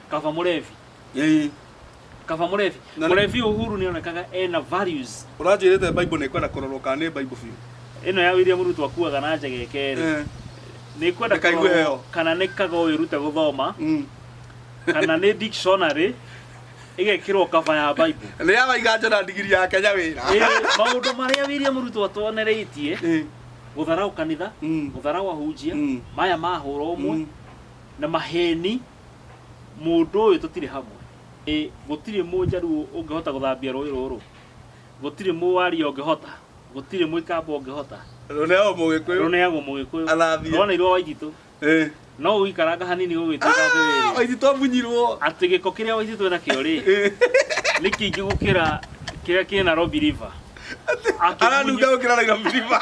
kaba murevi Ĩĩ. kaba murevi Na nĩ- murevi uhuru ni onekaga ena values ũranjĩrĩte bible nĩ kwenda kũrorwo kana nĩ bible biũ ino ya william ruto akuaga na njega ikeri Eh, ni kwenda Reka igue kũrorwo heo. kana ni kaga wirute guthoma mm. kana ni dictionary igekirwo kaba ya bible nĩ ya waiga njona ndigiri ya kenya wĩra Eh, maundu maria william ruto atwonereitie Eh, gutharau kanitha Mm. gutharau ahunjia Mm. maya mahura umwe Mm. na maheni mũndũ ũyũ tũtirĩ hamwe Ĩ, gũtirĩ mũnjaruo ũngĩhota gũthambia rũĩ rũrũ gũtirĩ mũwaria ũngĩhota gũtirĩ mũikamba ũngĩhota Rũneagwo mũgĩkũyũ. rũneagwo mũgĩkũyũ Athambie. rwanairwo waititũ Eh. no ũgĩikaranga hanini gũgĩtuĩka Ah, atĩrĩrĩ Waititũ amunyirwo. atĩ gĩko kĩrĩa waititũ nakĩo rĩ Eh. nĩ kĩingĩ gũkĩra kĩrĩa kĩ Nairobi River Aranunga gũkĩra Nairobi River.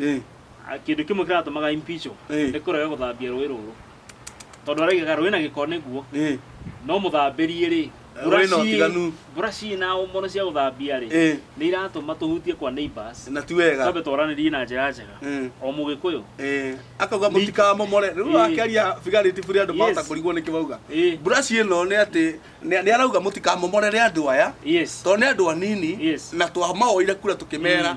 Eh, Ah, kĩndũ kĩmwe kĩratũmaga impeachwo Eh. nĩ kũrega gũthambia rũĩ rũrũ tondũ araigaga rũĩ na gĩko nĩguo eh, no mũthambĩrie rĩ Rũĩ na ũtiganu. buraci na mono cia gũthambia rĩ eh, nĩ iratũma tũhutie kwa neighbors na ti wega twambe twaranĩrie na njĩra njega Eh, o mũgĩkũyũ eh, akauga mũtikamomore rĩu Eh. akĩaria bigarĩti burĩ andũ mahota Yes. kũrigwo nĩkĩ bauga Eh. buraci ĩno nĩ atĩ nĩ nĩ arauga mũtikamomorere andũ aya yes tondũ nĩ andũ anini Yes. na twamaoire kura tũkĩmera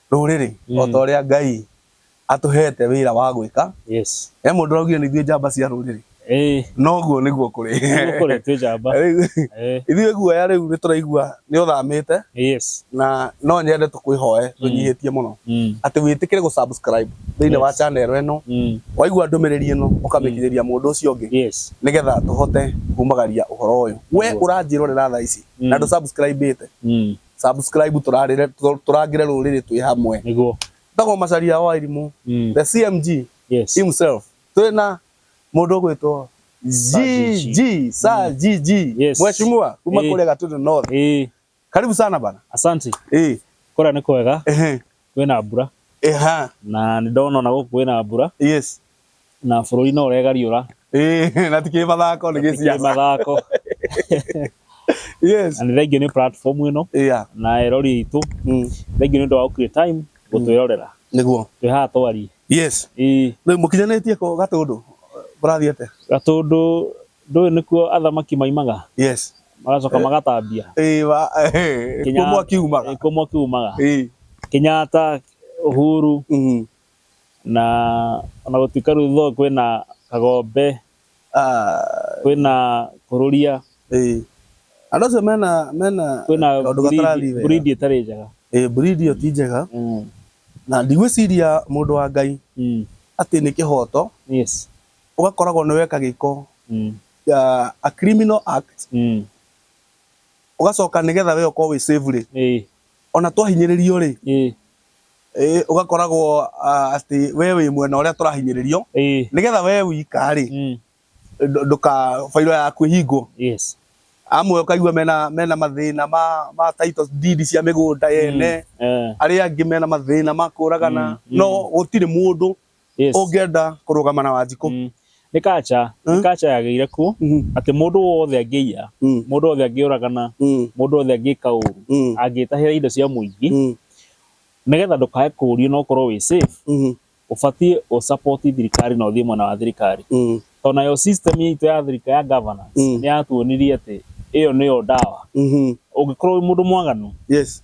Rũrĩrĩ o ta ũrĩa Ngai atũhete wĩra wa gwĩka. Yes. He mũndũ ũraugire nĩ ithuĩ njamba cia rũrĩrĩ. Ĩĩ. Na ũguo nĩguo kũrĩ. Nĩguo kũrĩ twĩ njamba. Rĩu ithuĩ guoya rĩu nĩ tũraigua nĩ ũthamĩte. Yes. Na no nyende tũkwĩhoe tũnyihĩtie mũno atĩ wĩtĩkĩre gũ subscribe thĩinĩ wa channel ĩno. Waigua ndũmĩrĩri ĩno ũkamĩkinyĩria mũndũ ũcio ũngĩ. Yes. Nĩgetha tũhote kumagaria ũhoro ũyũ. We ũranjĩrorera thaa ici na ndũ subscribe ĩte. subscribe tũrarĩre tũ- tũrangĩre rũrĩrĩ twĩ hamwe niguo tagwo macaria wa irimũ Mm. the cmg yes himself twĩ na mũndũ ũgwĩtwo Sir GG. gg sa gg Yes. mweshimua kuma Eh. kũrĩa gatũndũ north ĩĩ karibu sana bana asante Eh, kũrĩa nĩ kwega ehe. kwĩna mbura. Eha. Na nĩ ndona ona gũkũ kwĩna mbura. Yes. Na bũrũri no ũregariũra. Ĩĩ, na tikĩrĩ mathako nĩ gĩciaca. Tikĩrĩ mathako. Yes. Na nĩ thengiũ nĩ platform ĩno. Yeah. Na erori aitũ. Mm. Thengiũ nĩ ũndũ wa gũ create time gũtwĩrorera. Mm. Nĩguo. Twĩ haha twarie. Yes. Ĩĩ. Rĩu mũkinyanĩtie kũ Gatũndũ? Mũrathiĩ atĩa? Gatũndũ Ndũĩ nĩkuo athamaki maimaga? Yes. Magacoka magatambia. Ĩĩ wa. Kuo mwaki umaga. Kuo mwaki umaga. Ĩĩ. Kenyatta, Uhuru. Na ona gũtuĩka rĩu though kwĩna Kagombe, kwĩna Kururia. Ĩĩ. Andũ acio mena mena kaũndũ gatarathiĩ wega. Kwĩna breed ĩtarĩ njega. Ĩĩ breed ĩyo ti njega. Na ndigwĩciria mũndũ wa Ngai atĩ nĩ kĩhoto ũgakoragwo nĩ weka gĩko a criminal act ũgacoka nĩgetha we ũkorwo wĩ safe rĩ, ona twahinyĩrĩrio rĩ ũgakoragwo atĩ we wĩ mwena ũrĩa tũrahinyĩrĩrio nĩgetha we wika rĩ bairo yaku ĩhingwo. Amwe ũkaigua mena mathĩna ma title deed cia mĩgũnda ene, arĩa angĩ mena mathĩna ma kũragana no gũtirĩ mũndũ. Yes. ũngĩenda kũrũgama na wanjikũ Mm. nĩ kacha nĩ Mm. kacha yagĩire kuo Mhm. atĩ mũndũ wothe angĩiya Mm. mũndũ wothe angĩũragana Mm. mũndũ wothe angĩka ũru Mm. angĩtahĩra indo cia mũingĩ Mm. nĩgetha ndũkae kũũrio na ũkorwo wĩ safe Mhm. ũbatiĩ ũsapoti thirikari na ũthiĩ mwena wa thirikari Mm. tondũ nayo system itũ ya thirikari ya governance Mm. nĩ yatuonirie atĩ ĩyo nĩyo ndawa Mhm. ũngĩkorwo wĩ mũndũ mwaganu yes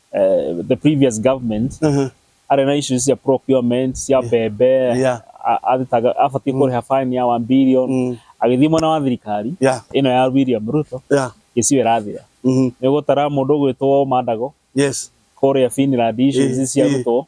eh, the previous government Mhm. arĩ na issues cia procurement cia mbembe Yeah. a- athitaga- abatiĩ kũrĩha fine ya 1 billion Mm. agĩthiĩ mwena wa thirikari Yeah. ĩno ya William Ruto Yeah. gĩcigo ĩrathira Mhm. nĩ gũtara mũndũ ũgwĩtwo Mandago Yes. kũrĩa Finland issues Eh, cia eh. Ruto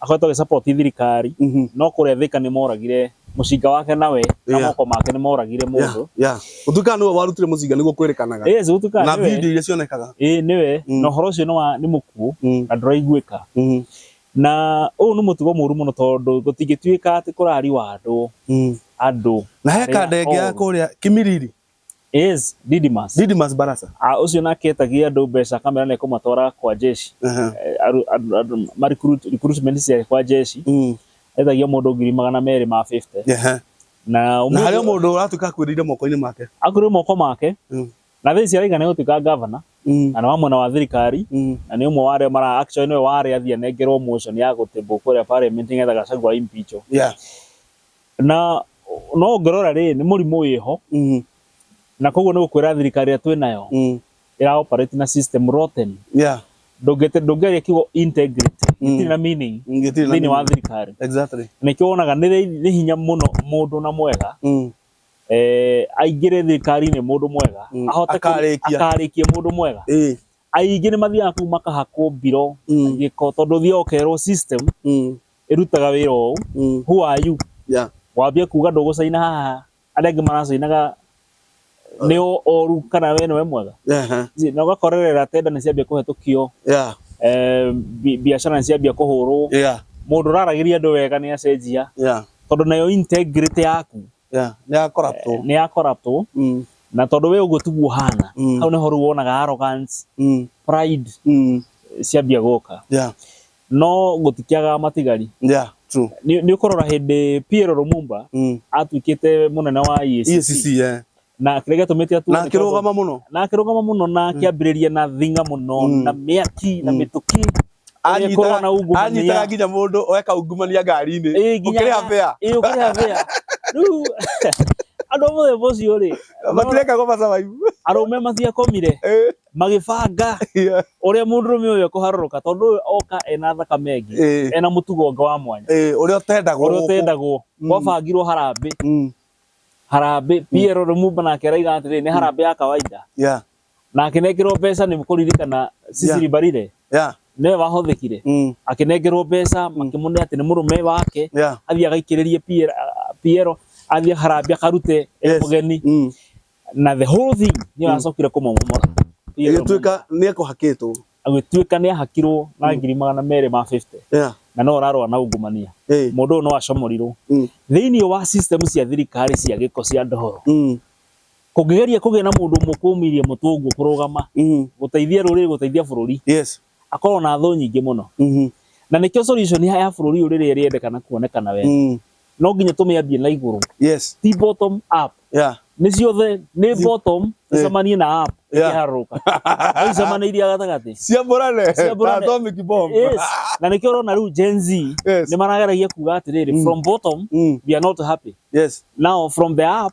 akoretwo agĩ support thirikari Mhm. no kũrĩa thika nĩ moragire mũcinga wake nawe na Yeah. moko make nĩ moragire Yeah, mũndũ yeah. Gũtuĩka nĩwe warutire mũcinga nĩguo kwĩrĩkanaga yes na gũtuĩka video nĩwe iria cionekaga ĩĩ nĩwe Mm. na ũhoro ũcio nĩ wa- nĩ mũkuũ Mm, na ndũraiguĩka mhm, na ũyũ nĩ mũtugo mũru mũno tondũ gũtingĩtuĩka atĩ kũrariwa andũ mm. andũ na he Arĩa kanda ĩngĩ ya oru. kũrĩa kĩmiriri Yes, Didymus. Didymus Barasa. Ah, ucio nake etagia andu mbeca kamera na ikumatwara kwa jeshi. Aha. Eh, aru- aru- aru- ma recruit- recruitment cia kwa jeshi. Mm. Etagia mundu ngiri magana meri ma 50. Aha. Na Na umuthi- harĩ o mũndũ ũratuĩka akuĩrĩire moko-inĩ make. akũrĩ moko make Mm. na thaa ici araiga nĩ gũtuĩka gavana Mm. na nĩ wa mwena wa thirikari Mm. na nĩ ũmwe wa arĩa mara actually nĩwe wa arĩa athiĩ anengerwo motion ya gũtĩmbwo kũrĩa parliament nĩgetha Gachagua impeachwo Yeah. Na no ũngĩrora rĩ, nĩ mũrimũ wĩho, na koguo nĩ gũkwĩra thirikari ĩrĩa twĩ nayo ĩra operate na system rotten. Ndũngĩaria kiugo integrity, gĩtirĩ na meaning thĩinĩ wa thirikari. Nĩkĩo wonaga nĩ hinya mũno mũndũ na mwega aingĩre thirikari-inĩ mũndũ mwega, akarĩkie mũndũ mwega. Aingĩ nĩ mathiaga kũu makahakwo mbiro, gĩko, tondũ ũthiaga ũkerwo system ĩrutaga wĩra ũũ mm. who are you yeah. wambia kuga ndũgũcaina haha arĩa angĩ maracainaga nĩ oru kana we nĩwe mwega na ũgakorerera tenda nĩ ciambia kũhetũkio biacara nĩ ciambia kũhũrwo mũndũ ũraragĩria andũ wega nĩ acenjia tondũ nayo integrity yaku Yeah, nĩ ya corruptwo. nĩ ya corruptwo Mm, na tondũ we ũguo tiguo ũhana Mm. hau nĩho rĩu wonaga arrogance mm, pride mm. ciambia gũka Yeah, no gũtikĩaga matigari yeah, true. nĩ nĩ ũkũrora hĩndĩ Pierre Lumumba Mm. atuĩkĩte mũnene wa EACC EACC, yeah. na kĩrĩa gĩatũmĩte atuo Na nĩ tondũ- akĩrũgama mũno. na akĩrũgama mũno na akĩambĩrĩria na thinga mũno Mm. na mĩaki na Mm. mĩtũkĩ Onye korwo na ungumania. anyitaga nginya mũndũ oe kaungumania ngari-inĩ Ĩĩ, nginya- ũkĩrĩha bĩa Ĩĩ, ũkĩrĩha bĩa rĩu andũ a mũthemba ũcio rĩ matirekago macabaibu arũme matiakomire Eh, magĩbanga yeah. ũrĩa mũndũrũme ũyũ ekũharũrũka tondũ ũyũ oka ena thakame ĩngĩ Eh, ena mũtugo ũngĩ wa mwanya eh, ũrĩa ũtendagwo ũrĩa gũkũ. ũtendagwo Mm. gwabangirwo harambĩ Mm, harambĩ Pierre Lumumba nake araiga atĩrĩ nĩ harambĩ ya kawaida yeah. Na akĩnengerwo mbeca nĩ kũririkana Sisiri Mbarire Yeah. nĩwe wahũthĩkire Mm. akĩnengerwo mbeca makĩmũnea atĩ nĩ mũrũme wake Yeah. athiĩ agaikĩrĩrie Pierre- ah, Pierre athiĩ harambĩ akarute e Yes. mũgeni Mm. na the whole thing nĩyo yacokire kũmomomora Pierre Ĩgĩtuĩka nĩ ekũhakĩtwo. agĩtuĩka nĩ ahakirwo na ngiri magana merĩ ma 50 Yeah. na no ũrarũa na ungumania Hey. mũndũ ũyũ no acomorirwo Mm. thĩinĩ wa system cia thirikari cia gĩko cia ndohoro Mm. Kũngĩgeria kũgĩa na mũndũ ũmwe kũũmirie mũtũngũ kũrũgama Mhm. gũteithia rũrĩrĩ gũteithia bũrũri Yes. akorwo na thũ nyingĩ mũno Mhm. na nĩkĩo solution ya ya bũrũri ũyũ rĩrĩa ĩrĩendekana kuonekana wega Mm. no nginya tũmĩambie na igũrũ Yes. ti bottom up Yeah. nĩ ciothe nĩ bottom Eh. ĩcemanie na up Yeah. ĩkĩharũrũka no icemanĩirie gatagatĩ Ciambũrane. Ciambũrane. Ta atomic bomb. Yes. na nĩkĩo ũrona rĩu Gen Z Yes. nĩ marageragia kuga atĩrĩrĩ Mm. from bottom Mm. we are not happy Yes. now from the up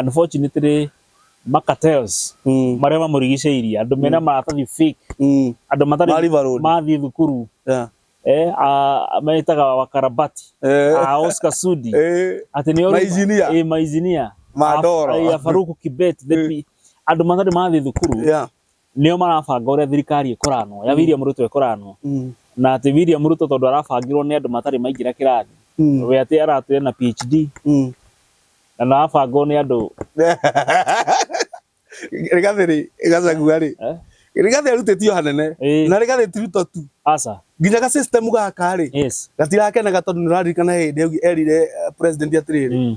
unfortunately ma cartels Mm. marĩa mamũrigicĩirie andũ mena maratathi fake Mm. andũ matarĩ Mariva Road. mathiĩ thukuru Yeah. eh, a- metaga wakarabati Eh. a Oscar Sudi Eh. atĩ nĩ Mainjinia. eh, mainjinia Mandoro. A- eh, Faruku Kibet the pi- andũ matarĩ mathiĩ thukuru Yeah. nĩo marabanga ũrĩa thirikari ĩkoranwo, ya William Ruto ĩkoranwo, na atĩ William Ruto tondũ arabangĩrwo nĩ andũ matarĩ maingĩra kĩrathi, we atĩ aratwĩra ena PHD, na nĩ arabangwo nĩ andũ. Rigathĩ rĩ, Gachagua rĩ, Rigathĩ arutĩtio hanene, na Rigathĩ ti Ruto tu, aca, nginya ga system gaka rĩ, gatirakenaga tondũ nĩ ũraririkana he hĩndĩ erire president atĩrĩrĩ,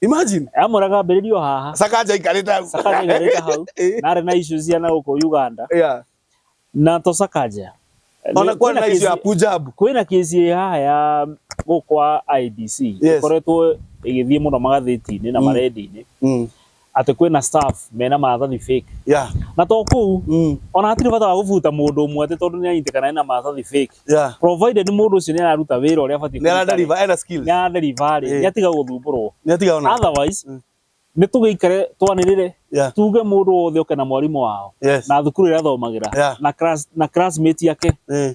Imagine. Amora kambĩrĩrio haha. Sakaja ikarĩte hau. Sakaja ikarĩte hau. Eh. Narĩ na issues cia na gũkũ Uganda. Yeah. Na to Sakaja. Ona kwa na issue ya Punjab. Kwĩ na kesi haha ya gũkwa IBC. Yes. Ikoretwo igĩthiĩ mũno magathĩti-inĩ na mm. marendi-inĩ. Mm. atĩ kwĩna staff mena maratathi fake yeah na to kũu mm. ona hatirĩ bata wa gũbuta mũndũ ũmwe atĩ tondũ nĩ anyitĩkana ena maratathi fake yeah provided mũndũ ũcio nĩ araruta wĩra ũrĩa abatiĩ nĩ ara deliver ena skills nĩ ara deliver rĩ Eh. nĩ atiga gũthumbũrwo nĩ atiga ona otherwise Mm. nĩ tũgĩikare twanĩrĩre yeah tuge mũndũ wothe oke na mwarimũ wao yes na thukuru ĩrĩa athomagĩra Yeah. na class na classmate yake eh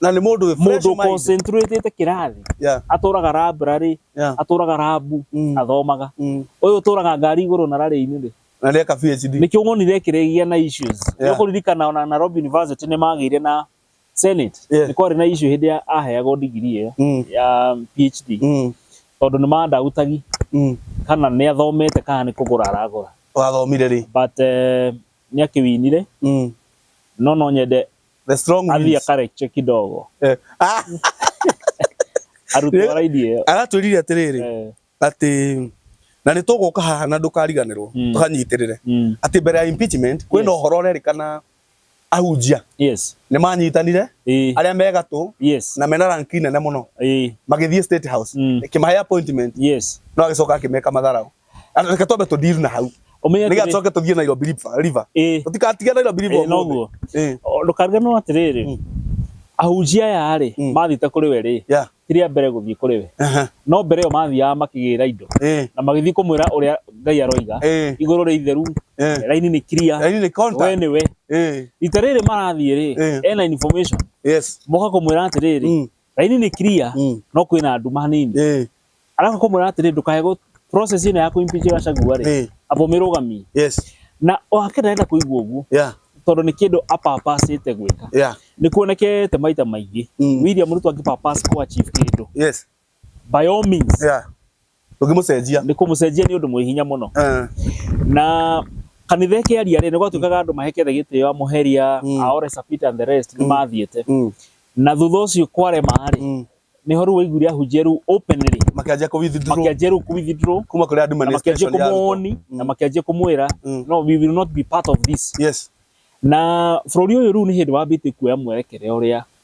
na nĩ mũndũ wĩ fresh mũndå mind. concentrate kĩrathi Yeah, atũraga library yeah. atũraga rabu Mm. athomaga Mm. ũyũ ũtũraga ngari igũrũ na rarĩ-inĩ rĩ na nĩeka PhD nĩkĩo wonire kĩrĩgĩa na issues Yeah. nĩũkũririkana ona Nairobi University nĩmagĩire na Senate Yeah. nĩ kwarĩ na issue hĩndĩ ya aheagwo degree ĩyo Mm. ya PhD Mm, tondũ nĩ mandautagi mm. kana nĩ athomete kana nĩ kũgũra aragũra wathomire rĩ but eh, nĩ akĩwinire Mm, no no nyende the strong athiĩ winds. akareche kidogo Eh, ah, arutwo raidi ĩyo aratwĩrire atĩrĩrĩ Eh, atĩ na nĩ tũgũka haha na ndũkariganĩrwo Mm. tũkanyitĩrĩre mm, atĩ mbere ya impeachment kwĩna Yes. ũhoro ũrerĩkana ahunjia yes nĩ manyitanire ĩĩ, arĩa me gatũ yes na mena ranki nene mũno ĩĩ, magĩthiĩ state house Mm. ĩkĩmahe appointment yes no agĩcoka akĩmeka matharaũ Ana reke twambe tũdeal na hau. Ũmenye Nĩgetha atĩrĩ- tũcoke tũthiĩ Nairobi River- River. ĩĩ, Tũtigatige Nairobi River ĩĩ, ũmũthĩ. noguo. Ĩĩ. O, ndũkariganĩrwo atĩrĩrĩ Mm. ahunjia aya rĩ Mm. mathite kũrĩ we rĩ Yeah. ti rĩa mbere gũthiĩ kũrĩ we Aha. no mbere ĩyo mathiaga makĩgĩra indo Ĩĩ. na magĩthiĩ kũmwĩra ũrĩa ngai aroiga Ĩĩ. igũrũ rĩ itheru Ĩĩ. raini nĩ kiria Yaani ni we contact. nĩ we Ĩĩ. rita rĩrĩ marathiĩ rĩ Ĩĩ. ena information Yes. moka kũmwĩra atĩrĩrĩ Mm. Raini nĩ clear Mm. no kwĩna nduma hanini. Eh, Arabu kũmwĩra atĩrĩ ndũkae gũ process ĩno ya kũimpeach Gachagua rĩ Eh. amba ũmĩrũgamie. yes. Na wake ndarenda kũigua ũguo Yeah, tondũ nĩ kĩndũ apapacĩte gwĩka. yeah. Nĩ kuonekete maita maingĩ Mm. William Ruto angĩpapass kũ achieve kĩndũ. Yes. By all means Yeah. ndũngĩmũcenjia nĩ kũmũcenjia nĩ ũndũ mwĩ hinya mũno Eh, na kanitha ĩkĩaria rĩ nĩ gwatuĩkaga andũ mahekete gĩtĩo amũheria Mm. aore sapita and the rest nĩ mathiĩte mm, na thutha ũcio kwarema rĩ mm. nĩho rĩu waiguire ahunjia rĩu openly makĩanjia kũ withdraw makĩanjia rĩu kũwithdraw kuma kũrĩ na makĩanjia administration ya arutwo. kũmwoni na makĩanjia kũmwĩra Mm. no we will not be part of this yes na bũrũri ũyũ rĩu nĩ hĩndĩ wambĩtie kuoya mwerekere ũrĩa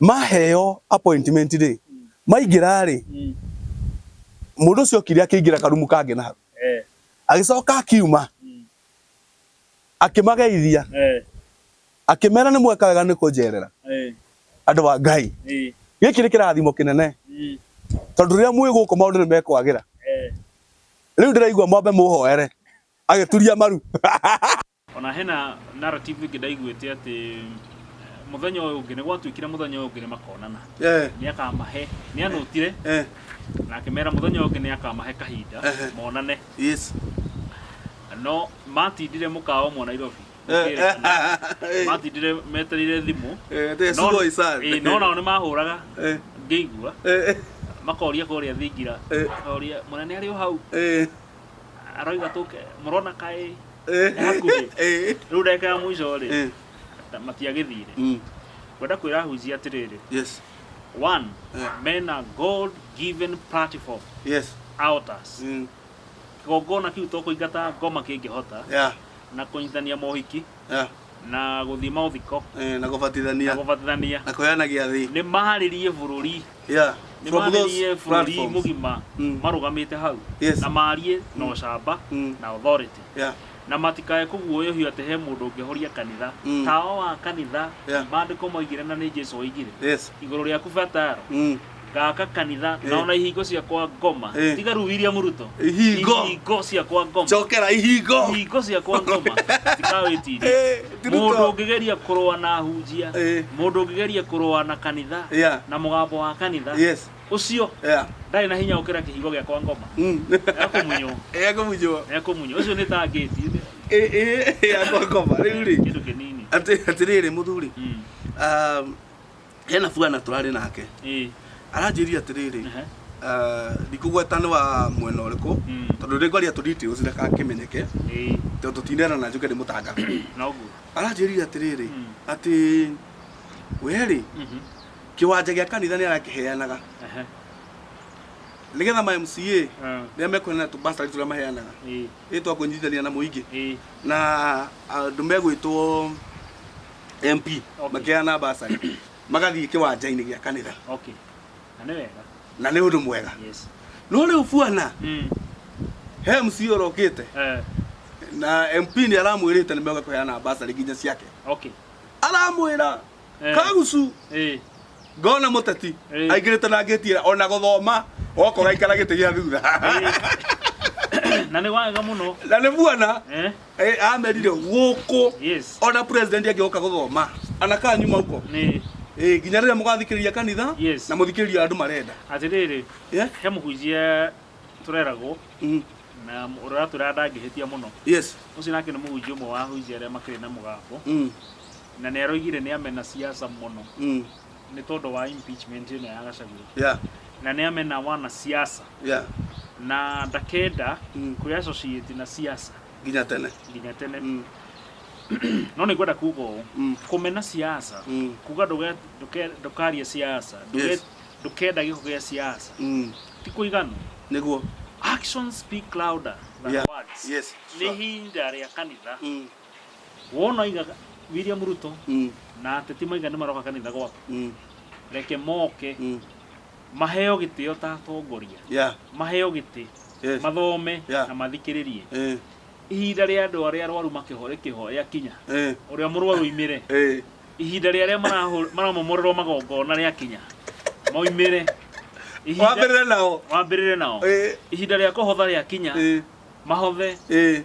maheo appointment rĩ maingĩra rĩ mundu ucio okire akĩingĩra karumu kange na hau eh. agicoka akiuma mm. akimageithia eh. akimera ni mweka wega ni kunjerera eh. andu wa ngai giki ni kirathimo kinene mm. tondu riria mwi guku maundu ni mekwagira riu ndiraigua mwambe muhoere agituria maru Ona hena narrative ĩngĩ ndaiguĩte atĩ mũthenya ũyũ ũngĩ nĩ gwatuĩkire mũthenya ũyũ ũngĩ nĩ makonana eh. nĩ akamahe nĩ anũtire eh. na akĩmera mũthenya ũyũ ũngĩ nĩ akamahe kahinda eh. monane yes. no matindire mũkawa ũmwe Nairobi matindire metereire thimũ no nao nĩ mahũraga ngĩigua makoria kũrĩa thingira makoria mũnene arĩ o hau arauga tũke mũrona kaĩ Eh, nĩ hakuhĩ eh, rĩu ndagĩka ya mũico rĩ eh, ta- matiagĩthire mm, ngwenda kwĩra ahunjia atĩrĩrĩ yes, one Eh. mena god given platform yes, outers mm, kĩgongona kĩu to kũingata ngoma kĩngĩhota yeah, na kũnyitithania mohiki Yeah. na gũthiĩ maũthiko Eh, na gũbatithania na gũbatithania na kũheana gĩathĩ nĩ maarĩrie bũrũri yeah. nĩ From those maarĩrie bũrũri platforms. mũgima Mm. marũgamĩte hau Yes. na maarie na ũcamba Mm. na authority Yeah. na matikae kũguoyohio atĩ he mũndũ ũngĩhoria kanitha Mm. tawa wa kanitha Yeah. maandĩko moigire na nĩ jesu oigire Yes. igũrũ rĩaku bataro Mm. gaka kanitha Eh. naona ihingo cia kwa ngoma Eh. tiga rĩu William Ruto Ihingo. ihingo cia kwa ngoma cokera ihingo ihingo cia kwa ngoma tikawĩtirie Eh, ti Ruto. mũndũ ũngĩgeria kũrũa na hunjia Eh. mũndũ ũngĩgeria kũrũa na kanitha Yeah. na mũgambo wa kanitha yes ũcio yeah ndarĩ na hinya gũkĩra kĩhingo gĩa kwa ngoma mm ekũmunywo ekũmunywo ekũmunywo ũcio nĩ ta ngĩti eh eh ya ngoma rĩu rĩ kĩndũ kĩnini atĩ atĩrĩrĩ mũthuri Mm. um, hena bwana tũrarĩ nake ĩ aranjĩria atĩrĩrĩ aha, ah, ndikũgweta nĩ wa mwena ũrĩkũ Mm. tondũ nĩ ngwaria tũ details ndakakĩmenyeke ĩ tondũ tũtinerana njuke nĩ mũtanga noguo aranjĩria atĩrĩrĩ Mm. atĩ werĩ Mhm, kĩwanja gĩa kanitha nĩ arakĩheanaga aha, nĩgetha ma MCA ah, rĩrĩa mekũheana tũbastarĩ tũrĩa maheanaga ĩ ĩtwa kũnyitithania na mũingĩ ĩ na andũ megwĩtwo mp Okay. makĩheana basarĩ magathiĩ kĩwanja-inĩ gĩa kanitha okay na nĩ wega na nĩ ũndũ mwega yes no rĩu buana mm. he mc ũrokĩte eh, na mp nĩ aramwĩrĩte nĩ mega kũheana basarĩ nginya ciake okay aramwĩra Eh. kagucu eh, ngona mũteti Eh. aingĩrĩte na ngĩtiĩra ona gũthoma oko gaikara gĩtĩ gĩa thutha na nĩ wega mũno na nĩ buana eh, Eh, amerire gũkũ Yes. ona president angĩoka gũthoma anakaa nyuma huko Nĩ Eh, nginya rĩrĩa mũgathikĩrĩria kanitha Yes. na mũthikĩrĩria andũ marenda atĩrĩrĩ Yeah? he mũhunjia tũreragwo Mhm. na ũrĩa ũratwĩra ndangĩhĩtia mũno yes ũcio nake nĩ mũhunjia ũmwe wa ahunjia arĩa makĩrĩ na mũgambo Mm, na nĩ aroigire nĩ amena siasa mũno mm, nĩ tondũ wa impeachment ĩno ya Gachagua yeah na nĩ amena wana siasa yeah na ndakenda Mm. kwĩ associate na siasa nginya tene nginya tene mm. no nĩ ngwenda kuga ũũ Mm. kũmena siasa Mm. kuga ndũge- ndũke- ndũkarie siasa ndũge- Yes. ndũkenda gĩko gĩa siasa Mm. ti kũiganu nĩguo actions speak louder than Yeah. words yes nĩ sure. ihinda rĩa kanitha mm. wona oiga william ruto Mm, na ateti maigane maroka kanitha gwaku mm, reke moke mm. maheo gĩtĩo ta atongoria Yeah, maheo gĩtĩ yes. mathome Yeah. na mathikĩrĩrie Eh, ihinda rĩa andũ arĩa arwaru makĩho rĩkĩho rĩakinya eh, ũrĩa mũrwaru oimĩre eh. ihinda rĩa arĩa marahũ- maramomorerwo magongona rĩakinya moimĩre Ihinda- Wambĩrĩre nao. wambĩrĩre nao Eh, ihinda rĩa kũhotha rĩakinya eh, mahothe eh.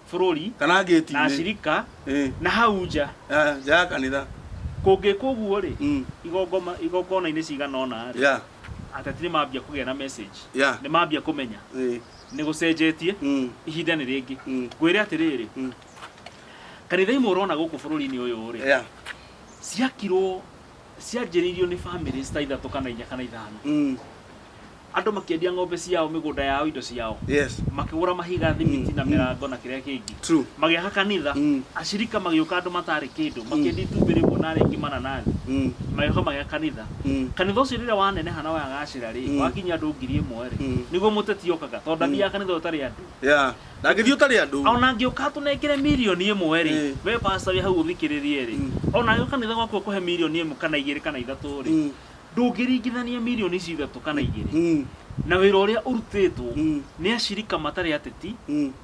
bũrũri kana na ngĩti-inĩ acirika Ĩ, na hau nja ah, nja ya kanitha kũngĩkwo ũguo-rĩ Mm. igongoma- igongona-inĩ cigana ũna-rĩ ya ateti nĩ mambia kũgĩa na message ya nĩ mambia kũmenya Ĩ, nĩ gũcenjetie mm, ihinda nĩ rĩngĩ mm, ngwĩre atĩrĩrĩ Mm. kanitha imwe ũrona gũkũ bũrũri-inĩ ũyũ-rĩ ya ciakirwo cianjĩrĩirio nĩ family ta ithatũ kana inya kana ithano mm, Andũ makĩendia ng'ombe ciao, mĩgũnda yao, indo ciao. Yes. Makĩgũra mahiga, thimiti na mĩrango na kĩrĩa kĩngĩ. True. Magĩaka kanitha. Mm. Ashirika magĩũka andũ matarĩ kĩndũ, makĩendia itumbĩ rĩmwe na arĩa aingĩ mananathi. Mm. Magĩũka magĩaka kanitha. Mm. Kanitha ũcio rĩrĩa waneneha na wagacĩra rĩ, Mm. wakinyia andũ ngiri ĩmwe rĩ, Mm. nĩguo mũteti okaga tondũ ndathiaga kanitha ũyũ ũtarĩ andũ. Yeah. Na ngĩthiĩ ũtarĩ andũ. Ona angĩũka atũnengere mirioni ĩmwe rĩ, Eh. we pastor wĩ hau ũthikĩrĩrie rĩ, Mm. ona angĩũka kanitha gwaku akũhe mirioni ĩmwe kana igĩrĩ kana ithatũ rĩ, Mm. Ndũngĩringithania mirioni icio ithatũ kana igĩrĩ na wĩra ũrĩa ũrutĩtwo nĩ acirika matarĩ ateti,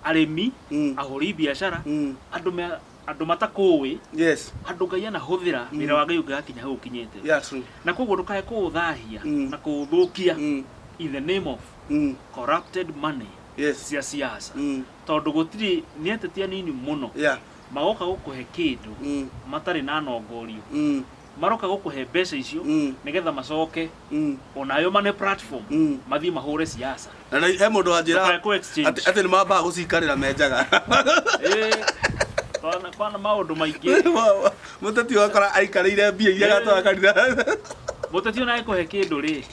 arĩmi, ahũri biacara, andũ me andũ matakũũĩ, Yes. andũ Ngai anahũthĩra, wĩra wa Ngai ũngĩgakinya hau ũkinyĩte. Yeah, true. Na koguo ndũkae kũũthahia na kũũthũkia in the name of Mm. corrupted money Yes. cia siasa. Mm. Tondũ gũtirĩ, nĩ ateti anini mũno Yeah. magoka gũkũhe kĩndũ Mm. matarĩ na nongorio Mm. maroka gũkũhe mbeca icio Mm. nĩgetha macoke Mm. onayo mane platform Mm. mathiĩ mahũre siasa Na na- he mũndũ wanjĩra Ndũkae kũ exchange. atĩ atĩ nĩ mambaga gũcikarĩra menjaga Eh, kwana- kwana maũndũ maingĩ mũteti wakora aikarĩire mbia iria gatwara kanitha mũteti ona ekũhe kĩndũ rĩ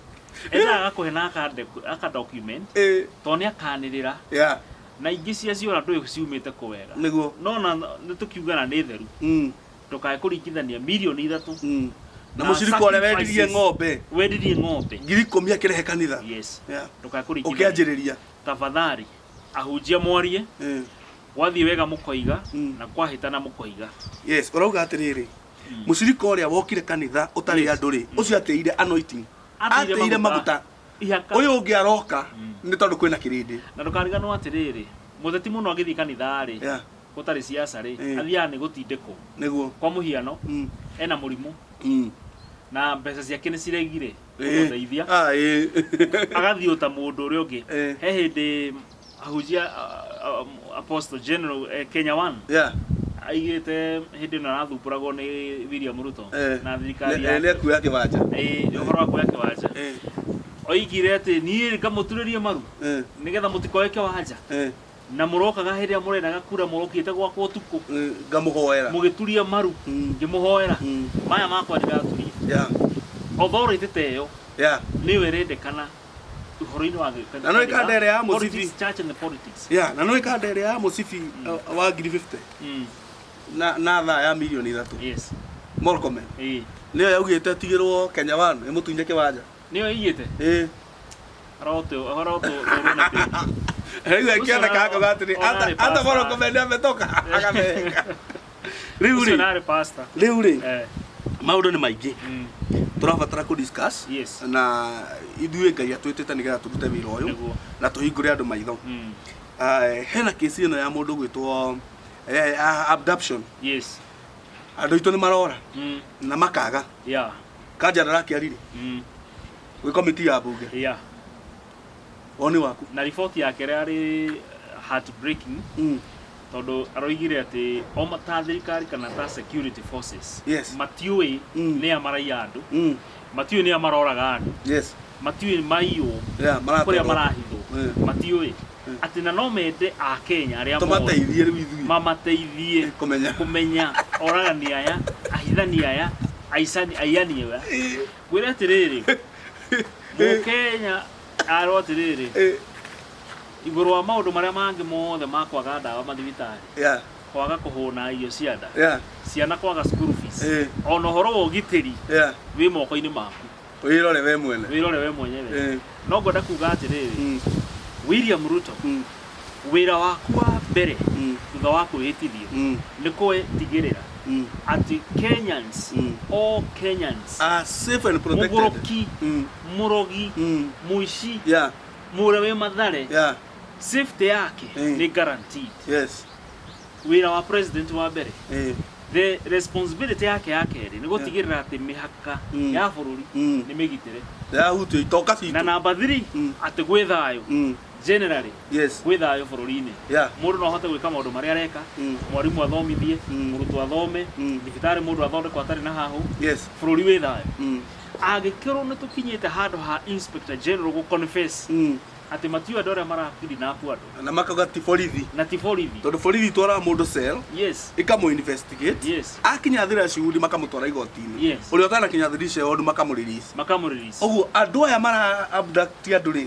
endaga agakũhe na akande- aka document Eh, tondũ nĩ akanĩrĩra yeah, na ingĩ cia ciora ndũĩ ciumĩte kũ wega nĩguo no na nĩ tũkiugana nĩ theru Mm, ndũkae kũringithania mirioni ithatũ Mm. na mũcirika ũrĩa wendirie sacrifices. ng'ombe wendirie ng'ombe ngiri ikũmi akĩrehe kanitha yes Yeah. ndũkae kũringithania ũkĩanjĩrĩria tafadhali ahunjia mwarie Eh. gwathiĩ wega mũkoiga Mm. na kwahĩtana mũkoiga yes ũrauga atĩrĩrĩ mũcirika ũrĩa wokire kanitha ũtarĩ Yes. andũ rĩ ũcio atĩire anointing atĩire maguta ihaka ũyũ ũngĩ aroka nĩ tondũ kwĩna kĩrĩndĩ na ndũkariganwo atĩrĩrĩ mũteti mũno agĩthiĩ kanitha-rĩ Yeah. gũtarĩ ciaca-rĩ, Eh. athiaga nĩ gũtindĩkwo. nĩguo Kwa mũhiano, Mm, ena mũrimũ mm. na mbeca ciake nĩ ciregire Eh, kũmũteithia, ah, eh. agathiĩ o ta mũndũ ũrĩa ũngĩ. Eh. He hĩndĩ ahunjia a- a- Apostle General eh, Kenya One Yeah, aigĩte hĩndĩ ĩno arathumbũragwo nĩ William Ruto eh. na thirikari Nĩ- eh, nĩ yake akuoya kĩwanja Eh, ũhoro wa kuoya kĩwanja Eh, oigire atĩ niĩ ngamuturĩrie maru eh, nĩgetha mũtikoe kĩwanja eh. Na mũrokaga hĩndĩ ĩrĩa mũrenaga kura mũrokĩte gwakwa ũtukũ. Mm, ngamũhoera. Mũgĩturia maru. Mm. Ngĩmũhoera. Mm. Maya makwa ndiraturia. Yeah. Authority ta ĩyo. Yeah. Nĩyo ĩrendekana ũhoro-inĩ wa gĩkani. Na no ikanda ĩrĩa ya mũcibi. Church and politics. Yeah, na no ikanda ĩrĩa ya mũcibi mm. uh, wa ngiri 50. Mm. Na na thaa ya milioni ithatũ. Yes. Morcomel. Eh. Nĩyo yaugĩte tigĩrwo Kenya One ĩmũtunye kĩwanja. Nĩyo ĩigĩte? Eh. Aroteo, ahora otro, otro na pia. Rĩu akĩona kakauga atĩrĩ Ona arĩ ata pastor. moro kũmende ametoka agatheka rĩu Ucio rĩ nare pastor. rĩu rĩ Eh, maũndũ nĩ maingĩ mm, tũrabatara kũ discuss Yes. na ithuĩ ngai atwĩtĩte nĩgetha tũrute wĩra ũyũ Nĩguo. na tũhingũre andũ maitho mm, Eh, hena kĩsi ĩno ya mũndũ gwĩtwo eh, ah, abduction yes. andũ aitũ nĩ marora Mm, na makaga yeah, kanja ndarakĩarire mm, Gwĩ komiti ya mbunge. yeah. Woni waku. na riboti yake rĩarĩ heartbreaking Mm. tondũ aroigire atĩ o ma- ta thirikari kana ta security forces Yes. matiũĩ Mm. nĩa maraiya andũ Mm. matiũĩ nĩa maroraga andũ Yes. matiũĩ maiyũ Yeah, kũrĩa marakorwo. marahithwo Mm. matiũĩ Mm. atĩ na no mende akenya arĩa mothe Tũmateithie rĩu ithuĩ. mamateithie Kũmenya. kũmenya oragani aya ahithani aya aicani aiyani aya ngwĩre atĩrĩrĩ mũkenya arwo atĩrĩrĩ Eh, igũrũ wa maũndũ marĩa mangĩ mothe ma kwaga ndawa mathibitarĩ yeah, kwaga kũhũna irio cia nda yeah, ciana kwaga school fees Eh. ona ũhoro wa ũgitĩri yeah. wĩ moko-inĩ maku wĩrore we mwene wĩrore we mwenyewe Eh, no ngwenda kuga atĩrĩrĩ mm, william ruto mm. Wĩra waku wa mbere Mm. thutha wa kwĩhĩtithio Mm. nĩ kũtigĩrĩra Mm. atĩ Kenyans, Mm. all Kenyans, Are safe and protected. mũgũrũki, Mm. mũrogi, Mm. mũici, Yeah. mũrĩa wĩ mathare, Yeah. safety yake Mm. nĩ guaranteed. Yes. Wĩra wa president wa mbere Eh. the responsibility yake ya kerĩ nĩ gũtigĩrĩra atĩ mĩhaka Mm. ya bũrũri Mm. nĩ mĩgitĩre Yahutio itoka na citũ. namba 3 Mm. atĩ gwĩ thayũ Mm. Generally, yes gwĩ thayũ bũrũri-inĩ yeah mũndũ no ahote gwĩka maũndũ marĩa areka Mm. mwarimũ athomithie Mm. mũrutwo athome Mm. thibitarĩ mũndũ athondekwo atarĩ na hahũ yes bũrũri wĩ thayũ mm. angĩkorwo nĩ tũkinyĩte handũ ha inspector general gũ confess Mm. atĩ matiũ andũ arĩa marakidnap andũ na makauga ti borithi na ti borithi tondũ borithi itwaraga mũndũ cell yes ikamũ investigate yes akinya thira ciudi makamũtwara igoti-inĩ Yes. ũrĩa ũtanakinya thira ciudi makamũrelease makamũrelease ũguo andũ aya mara abduct andũ rĩ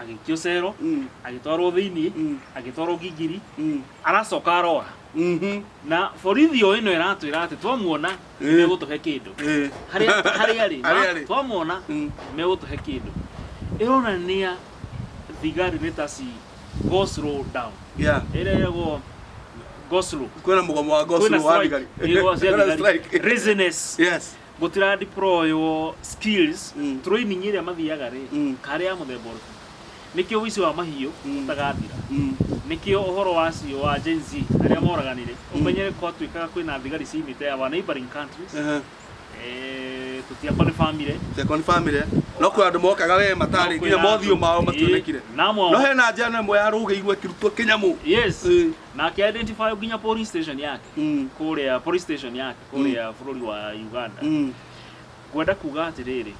agĩikio cero Mm. agĩtwarwo thĩinĩ Mm. agĩtwarwo ngingiri Mm. aracoka aroa Mhm. na borithi o ĩno ĩratwĩra atĩ twamuona Eh. megũtũhe kĩndũ Eh. harĩa harĩa rĩ Harĩa rĩ. twamuona Mm. megũtũhe kĩndũ ĩronania thigari nĩ ta ci go slow down Yeah. ĩrĩa yagwo go slow kwĩna mũgomo wa gospel wa thigari Kwĩna strike. Kwĩna strike. Reasoness. yes gutira deploywo skills Mm. training ĩrĩa mathiaga rĩ Mm. karĩ ya mũthemba ũrĩkũ nĩkĩo ũici wa mahiũ Mm. ũtagathira Mm. nĩkĩo ũhoro wa cio wa Gen Z arĩa moraganire Mm. ũmenyere kwatuĩkaga kwĩna thigari ciimĩte ya wa neighboring countries Ehe. eh, tũtiakwa nĩ family Ciakwa nĩ family. No kwĩ andũ mokaga we matarĩ nginya mothiũ mao mationekire. Namwe No hena njano ĩmwe yarũgĩirwo ĩkĩrutwo kĩnyamũ. Yes. Eh. na ake identify nginya police station yake Mm. kuria police station yake kuria bururi wa Uganda Mm. ngwenda kuga atiriri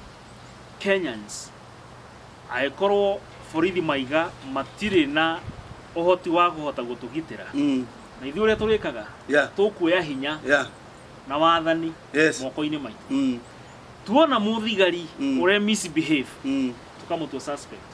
Kenyans agikorwo borithi maiga matire na uhoti wa kuhota gutugitira Mm. na ithuĩ ũrĩa tũrĩkaga Yeah. tũkuoya hinya Yeah. na wathani Yes. moko-inĩ maitũ Mm. tuona mũthigari Mm. ũrĩa misbehave Mm. tũkamũtua suspect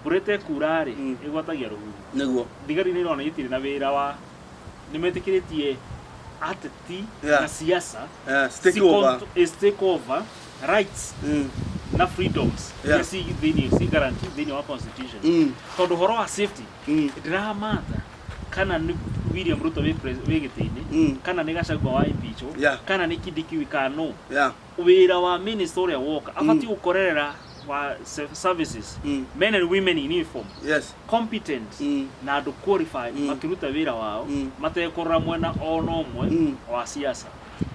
Mbura ĩtekuura-rĩ, Mm. ĩgwatagia rũhuho. nĩguo Thigari nĩ irona itirĩ na wĩra wa nĩ metĩkĩrĩtie ateti Yeah. na siasa Eh, ci take over. control- is take over rights Mm, na freedoms Yeah. iria ci thĩinĩ ci guarantee thĩinĩ wa constitution mm, tondũ horo wa safety mm, ndĩramatha kana nĩ William Ruto wĩ pres- wĩ gĩtĩ-inĩ mm, kana nĩ Gachagua wa impeachwo Yeah. kana nĩ Kindiki wĩ kana no yeah. wĩra wa minister ũrĩa woka abatiĩ gũkorerera wa se- services Mm. men and women in uniform yes competent Mm. na andũ qualified Mm. makĩruta wĩra wao Mm. matekũrora mwena ona ũmwe Mm. wa siasa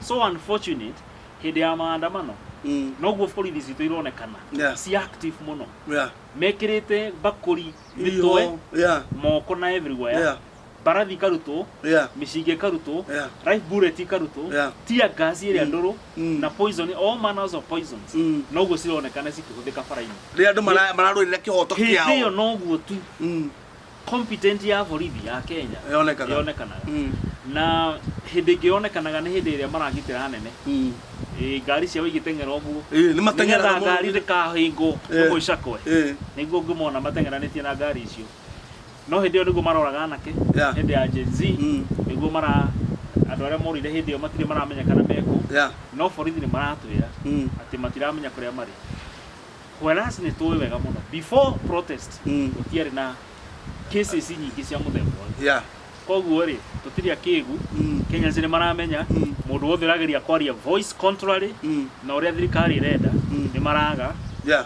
so unfortunate hĩndĩ ya maandamano mm. noguo borithi citũ ironekana Yeah. si active mũno yeah mekĩrĩte mbakũri mĩtwe Iho, yeah moko na everywhere Yeah. mbarathi ikarutwo Yeah. mĩcinga ĩkarutwo Yeah. live bullet ikarutwo Yeah. tear gas ĩrĩa ndũrũ Mm. na poison all manners of poisons Mm. noguo cironekana cikĩhũthĩka bara-inĩ rĩrĩa andũ mara- mararũĩrĩra kĩhoto hĩndĩ ĩyo kĩao noguo tu Mm. competent ya borithi ya kenya Yonekaga. yonekanaga Mm. na hĩndĩ ĩngĩ yonekanaga nĩ hĩndĩ ĩrĩa maragitĩra anene Mm. Eh, ngari ciao igĩteng'era ũguo Ĩĩ, nĩ mateng'eraga nĩgetha mũno. ngari ndĩkahĩngwo Ĩĩ. ĩmwe icakwe Ĩĩ. nĩguo ngĩmona mateng'eranĩtie na ngari icio no hĩndĩ ĩyo nĩguo maroraga anake Yeah. hĩndĩ ya Gen Z Mm. nĩguo mara andũ arĩa morire hĩndĩ ĩyo matirĩ maramenyekana mekũ Yeah. no borithi nĩ maratwĩra Mm. atĩ matiramenya kũrĩa marĩ whereas nĩ tũĩ wega mũno before protest Mm. gũtiarĩ na cases nyingĩ cia mũthemba ũyũ Yeah. koguo rĩ tũtirĩ akĩgu Mm. Kenyans nĩ maramenya Mm. mũndũ wothe ũrageria kwaria voice contrary Mm. na ũrĩa thirikari ĩrenda Mm. nĩ maraga Yeah.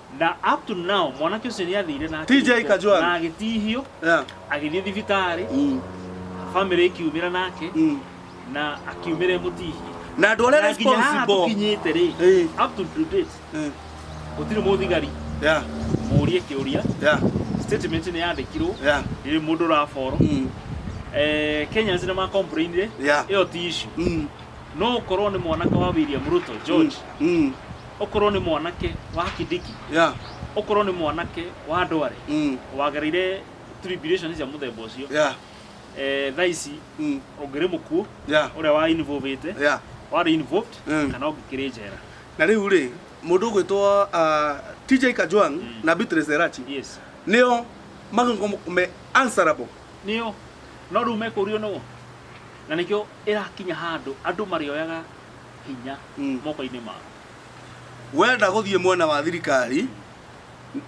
na up to now mwanake ũcio nĩ athire na TJ akĩrutwo, Kajwang'. na agĩtihio Yeah. agĩthiĩ thibitarĩ Mm. famĩlĩ ĩkiumĩra nake Mm. na akiumĩra ĩmũtihie na andå arä a Na nginya haha responsible tũkinyĩte rĩ Eh. up to date Eh, gũtirĩ mũthigari yeah, mũrie kĩũria yeah, statement nĩ yandĩkirwo yeah, ĩrĩ mũndũ ũraboro mm, eh, kenyans nĩ macomplainire Yeah. ĩyo ti issue mm, no ũkorwo nĩ mwanake wa william ruto george mm, mm. okorwo nĩ mwanake wa kidiki yeah okorwo nĩ mwanake wa ndware mm wagereire tribulation cia mũthemba ũcio yeah eh, thaa ici mm ũngĩrĩ mũkuũ yeah ũrĩa wa involvĩte yeah warĩ involved Mm. kana ũngĩkĩrĩ njera na rĩu rĩ mũndũ ũgwĩtwo ah, TJ Kajwang Mm. na Beatrice Erachi yes nĩo magĩkorwo me answerable nĩo no rĩu mekũrio nũũ na nĩkĩo ĩrakinya handũ andũ marĩoyaga hinya Mm. moko-inĩ maku wenda gũthiĩ mwena wa thirikari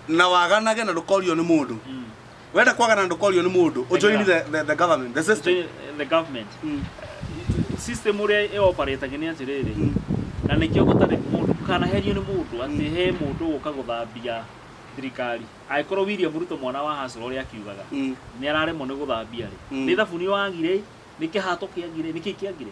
na waganage na ndũkorio nĩ mũndũ Mm. wenda kwagana na ndũkorio nĩ mũndũ ũjoini the, the, the government the system Join the government Mm. system ũrĩa ĩoparĩtaga nĩ atĩrĩrĩ Mm. na nĩkĩo gũtarĩ mũndũ ndũkanaherio nĩ mũndũ atĩ he mũndũ ũka gũthambia thirikari angĩkorwo William Ruto mwana wa Hasra ũrĩa akiugaga Mm. nĩ araremwo nĩ gũthambia rĩ Mm. nĩ thabuni wagire nĩ kĩhato kĩagire nĩ kĩĩ kĩagire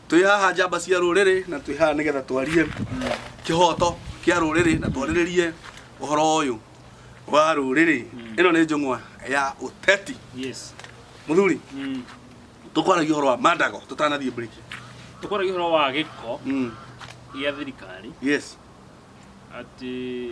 twĩ haha njamba cia rũrĩrĩ na twĩ haha nĩgetha twarie kĩhoto kĩa rũrĩrĩ na twarĩrĩrie ũhoro ũyũ wa rũrĩrĩ ĩno nĩ njũng'wa ya ũteti Yes. mũthuri Mm. tũkwaragia ũhoro wa mandago tũtanathiĩ break Tũkwaragia ũhoro wa gĩko Mm, gĩa thirikari yes atĩ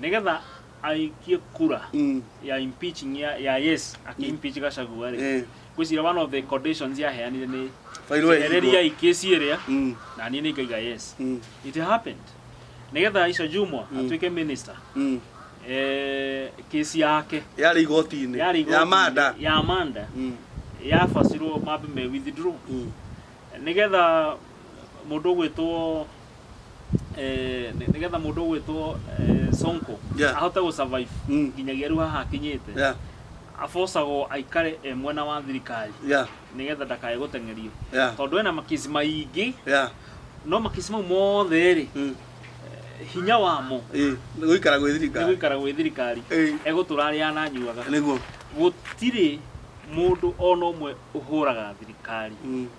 nigetha aikie kura Mm. ya impeaching ya, ya yes aki impeach gacagua rĩ Eh. ngwĩcira one of the conditions yaheanire nĩ Fairũ ĩhingwo. ereria ikĩci ĩrĩa Mm. na niĩ nĩ ngaiga yes Mm. it happened nigetha Aisha Jumwa Mm. atuĩke minister Mm. eh, kĩci yake Yarĩ igoti-inĩ. yarĩ Ya igoti-inĩ- Manda. ya Amanda Mm. yabacirwo mambe me withdraw Mm. nigetha mũndũ ũgwĩtwo eh, nĩ- nĩgetha mũndũ ũgwĩtwo eh, sonko Yeah. ahote gũ survive Mm. nginyagia rĩu haha akinyĩte yeah abocagwo aikare e mwena wa thirikari yeah nĩgetha ndakae gũteng'erio yeah tondũ ena makisi maingĩ yeah no makisi mau mothe rĩ mm. hinya wamo eh nĩ gũikara gwĩ nĩ thirikari gũikara gwĩ thirikari eh egũtũra arĩa ananyuaga nĩguo gũtirĩ mũndũ ona ũmwe ũhũraga thirikari mm.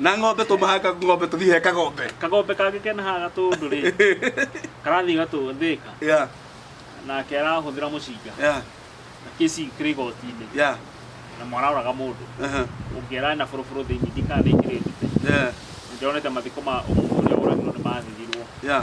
na ng'ombe tũmahaka ng'ombe tũthiĩ he kagombe kagombe kangĩkena haha gatũndũ rĩ karathiĩ gatũthĩka yeah nake arahũthĩra mũcinga yeah na kĩci kĩrĩ igoti-inĩ yeah na mwaraũraga mũndũ aha ũngĩara na bũrũbũrũ thĩinĩ ndikana nĩ njĩrĩ ndute yeah nĩ ndĩronete mathiko ma ũmũthĩ ũrĩa woragirwo nĩ mathirirwo yeah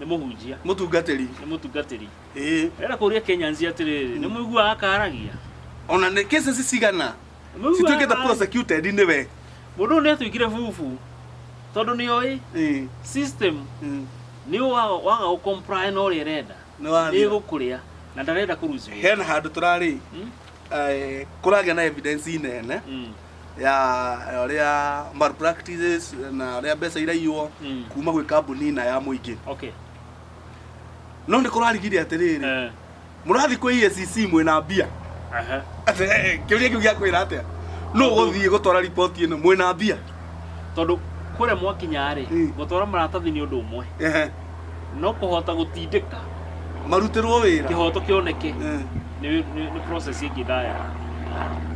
nĩ mũhunjia mũtungatĩri nĩ mũtungatĩri ĩĩ rĩera kũria kenyans atĩrĩrĩ nĩ mũiguaga akaragia ona nĩ cases cigana Nĩ mũiguaga cituĩkĩte akaragia. prosecuted nĩ we mũndũ ũyũ nĩ atuĩkire bubu tondũ nĩ oĩ Ĩĩ, system ĩĩ. nĩ waga waga gũcomply na ũrĩa ĩrenda Nĩ wathira. nĩ gũkũrĩa na ndarenda kũruciwo hena handũ tũrarĩ eh, kũragĩa na evidence nene ya ũrĩa malpractices na ũrĩa mbeca iraiywo Mm. kuma gwĩ kambuni na ya mũingĩ okay no nĩ kũrarigire atĩrĩrĩ eh mũrathiĩ kwĩ EACC mwĩna mbia aha Atĩ, eh, kĩũria kĩu gĩa kwĩra atĩa no gũthiĩ gũtwara riboti ĩno mwĩna mbia tondå kå rä a mwakinya rä Mm. gå twara maratathi nä å ndå å mwe Ehe. no kũhota gũtindĩka marutĩrwo wĩra kĩhoto kĩoneke Eh. nĩ nĩ- nĩ process ĩngĩ ndaya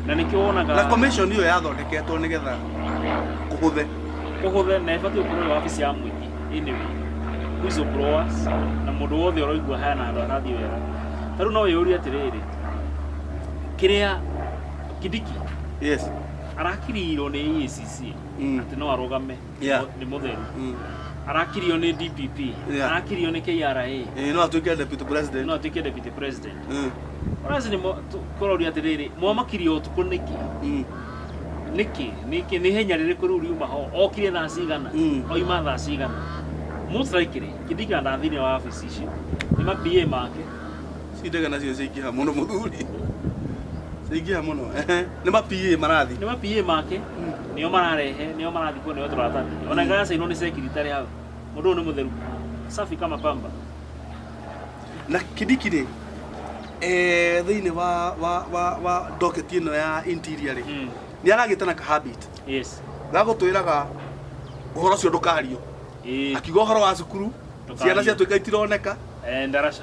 na nĩkĩo wonaga na commission ĩyo yathondeketwo nĩgetha kũhũthe kũhũthe na ĩbatiĩ gũkorwo ĩĩ wabici ya mũingĩ ĩnĩ whistle blowers na mũndũ wothe ũraigua haya na andũ arathiĩ wega ta rĩu no wĩyũrie atĩrĩrĩ kĩrĩa kidiki yes arakirirwo nĩ EACC Mm. atĩ no arũgame Yeah. nĩ mũtheru Mm. arakirio nĩ DPP Yeah. arakirio nĩ KRA Eh, no atuĩke deputy president no atuĩke deputy president Mm, ũrazi nĩ mo- tu- kũroria atĩrĩrĩ mwamakirio ũtukũ nĩkĩ mm, nĩkĩ nĩkĩ nĩ henya rĩrĩkũ rĩu riuma ho okire thaa cigana Mm. oima thaa cigana most likely kĩndika nda thĩinĩ wa wabici ici nĩ ma PA make cindega nacio ciaingĩha mũno mũthuri ciaingĩha mũno ehe. nĩ ma PA marathi nĩ ma PA make nĩo mararehe nĩo marathi kuo nĩo tũratarĩria ona ngaya cainwo nĩ secretary hau mũndũ ũyũ nĩ mũtheru safi kama pamba na kidiki rĩ eh, thĩinĩ wa wa wa wa docket ĩno ya interior rĩ Mm. nĩ aragĩte na ka habit yes gagũtwĩraga ũhoro ũcio ndũkario Ĩĩ. akiuga ũhoro wa cukuru Ndũkario. ciana ciatuĩka itironeka Eh, ndaraca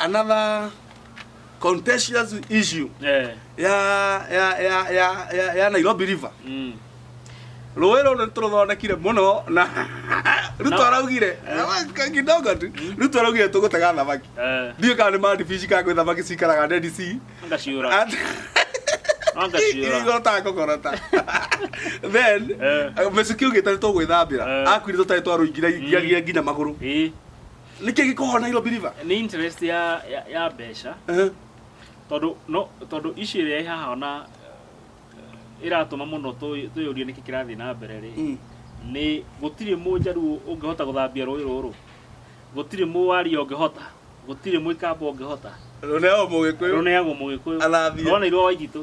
another contentious issue Eh. ya ya ya ya ya, ya Nairobi River Mm. rũĩ rũrũ nĩ tũrũthondekire mũno na ruto Na- araugire "Ka- kidogo tu ruto araugire tũgũtega thamaki Eh. ndiũ kana nĩ mandibici kana kwĩ thamaki cikaraga Dead Sea Anga ciũra. Anga ciũra. igorota ngogorota then Eh. mĩcuki ugĩte nĩ tũgwĩthambĩra Eh. akuire tũtarĩ twarũingire ngiagia nginya magũrũ Eh. nĩkĩ gĩkohora na ilo believer nĩ interest ya ya, ya mbeca Eh, tondũ no tondũ ici ĩrĩa ĩ haha ona eh, ĩratũma mũno tũyũ- twĩyũrie nĩkĩ kĩrathiĩ na mbere rĩ mm. nĩ gũtirĩ mũnjaruo ũngĩhota gũthambia rũĩ rũrũ gũtirĩ mũwaria ũngĩhota gũtirĩ mũikamba ũngĩhota rũneagwo mũgĩkũyũ rũneagwo mũgĩkũyũ Athambie. rũneirwo waititũ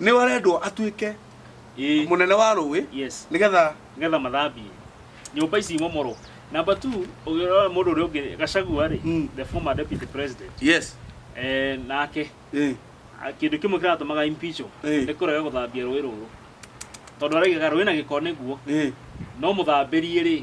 nĩ arendwo atuĩke Ĩĩ. mũnene wa rũĩ yes nĩgetha nĩgetha mathambie nyũmba ici imomorwo namba two ũngĩrora mũndũ ũrĩa ũngĩ gacagua rĩ Mm. the former deputy president yes eh, nake eh, a- kĩndũ kĩmwe kĩratũmaga impeachwo Eh. nĩ kũrega gũthambia rũĩ rũrũ tondũ araigaga rũĩ na gĩko nĩguo eh. no mũthambĩrie rĩ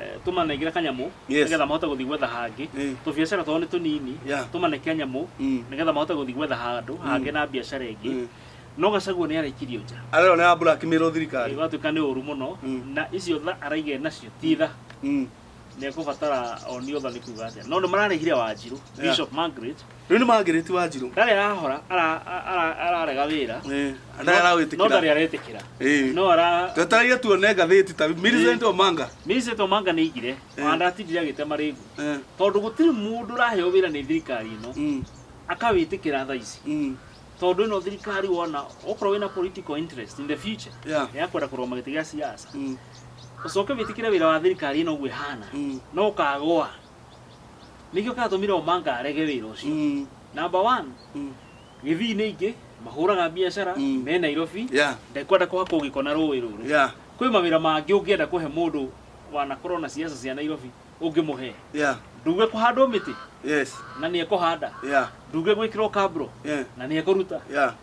Eh, tũmanengere kanyamũ Yes. nĩgetha mahote gũthiĩ gwetha hangĩ Eh. tũbiacara twao nĩ tũnini Yeah. tũmane kanyamũ Mm. nĩgetha mahote gũthiĩ gwetha handũ hangĩ na biacara ĩngĩ Mm. no gacaguo nĩ araikirio nja arero nä ambura akimä thirikari gatuĩka nĩ ũru mũno Mm. na icio tha araigire nacio ti tha Mm. nĩ ekũbatara onio tha nĩ kuga atĩa no nĩ mararĩhire wanjirũ Yeah. bishop margaret Rĩu nĩ Margaret Wanjirũ. Ndarĩ arahora ara- ara- ararega wĩra Eh, no ndarĩ arawĩtĩkĩra. ndarĩ aretĩkĩra Eh. no ara Twetereire tuone ngathĩti ta Millicent Omanga. Millicent Omanga nĩ aigire Eh. ona ndatindire agĩtema rĩngũ Eh, tondũ gũtirĩ mũndũ ũraheo wĩra nĩ thirikari ĩno mm, akawĩtĩkĩra tha ici mm, tondũ ĩno thirikari wona okorwo wĩna political interest in the future Yeah. ya kwenda kũrũgama gĩtĩ gĩa siasa mm, ũcoke wĩtĩkĩre wĩra wa thirikari ĩno ũguo ĩhana Mm. no ũkagũa Nĩkĩo kĩatũmire Omanga arege wĩra ũcio. Mm. Number one, Mm. gĩthii-inĩ ingĩ mahũraga biacara Mm. me Nairobi Yeah. ndekwenda kũhakwo gĩko na rũĩ rũrũ Yeah. kwĩ mawĩra mangĩ ũngĩenda kũhe mũndũ wanakorwo na ciaca cia Nairobi ũngĩmũhe Yeah. nduge kũhandwo mĩtĩ Yes. na nĩ ekũhanda Yeah. nduge gwĩkĩrwo kabro Yeah. na nĩ ekũruta Yeah.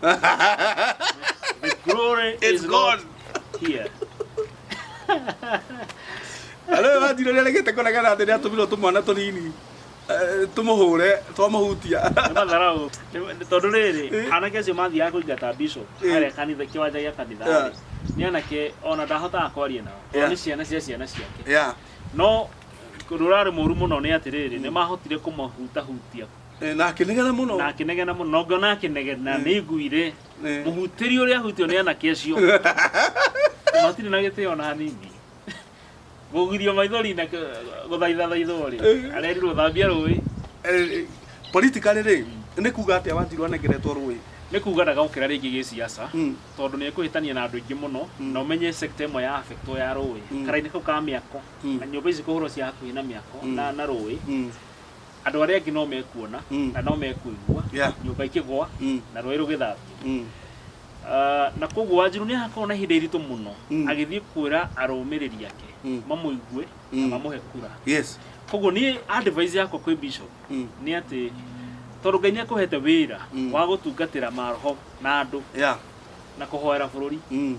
the glory It's is gone. not here. Arä wa njirä rä a regete kå regana atä nä atå mirwo tå mwana tå nini tå må hå re twamå hutia Nĩ matharaũ. Nĩ- nĩ- tondũ rĩrĩ Eh. anake acio mathiaga kũingata bishop Eh. harĩa kanitha kĩwanja gĩa kanitha Yeah. rĩ, nĩ anake ona ndahotaga kwaria nao Yeah. nĩ ciana cia ciana ciake Ya, no ũndũ ũrarĩ mũru mũno nĩ atĩrĩrĩ nĩ mahotire kũmahutahutia Eh, na akĩnegena mũno na akĩnegena mũno na ngona akĩnegena nĩ nguire Eh. mũhutĩri ũrĩa ahutio nĩ anake acio matirĩ na gĩtĩo na hanini gũgirio maithori na kĩ- gũthaitha thaithorĩ Eh. arerirwo thambia rũĩ Eh, politically rĩ nĩ kuga atĩa wanjirũ anengeretwo rũĩ nĩ kuga ndagokĩra rĩngĩ gĩciaca Mm. tondũ nĩ ekũhĩtania na andũ aingĩ mũno Mm. na ũmenye sekta ĩmwe ya afektwo ya rũĩ Mm. karainĩ kau ka mĩako Mm. na nyũmba ici kũhũrwo cia hakuhĩ na mĩako Mm. na na rũĩ Mm. andũ arĩa angĩ no mekuona Mm. na no mekũigua Yeah. nyũmba ikĩgwa Mm. na rũĩ rũgĩthambio Mm. Ah, na koguo wanjiru nĩ akorwo na ihinda iritũ mũno Mm. agĩthiĩ kwĩra arũmĩrĩri ake Mm. mamũigue na Mm. mamũhe kura Yes. koguo niĩ advice yakwa kwĩ bishop Mm. nĩ atĩ tondũ ngai nĩ akũhete wĩra Mm. wa gũtungatĩra maroho na andũ Yeah. na kũhoera bũrũri Mm.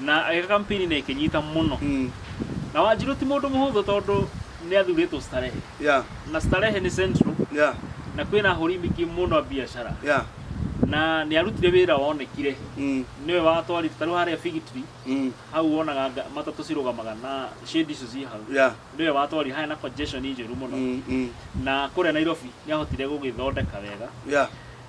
Na agĩkaka mpini na ĩkĩnyita mũno. Mm. Na Wanjirũ ti mũndũ mũhũthũ tondũ nĩ athurĩtwo Starehe. Yeah. Na Starehe nĩ Central. Yeah. Na kwĩna ahũri mingĩ mũno a biacara. Yeah. Na nĩ arutire wĩra wonekire. Mm. Nĩwe watwarite tarĩu harĩa Fig Tree. Mm. Hau wonaga nga- matatũ cirũgamaga na shade icio ciĩ hau. Yeah. Nĩwe watwarire harĩa na congestion njũru mũno. Mm. Mm. Na kũrĩa Nairobi nĩ ahotire gũgĩthondeka wega. Yeah.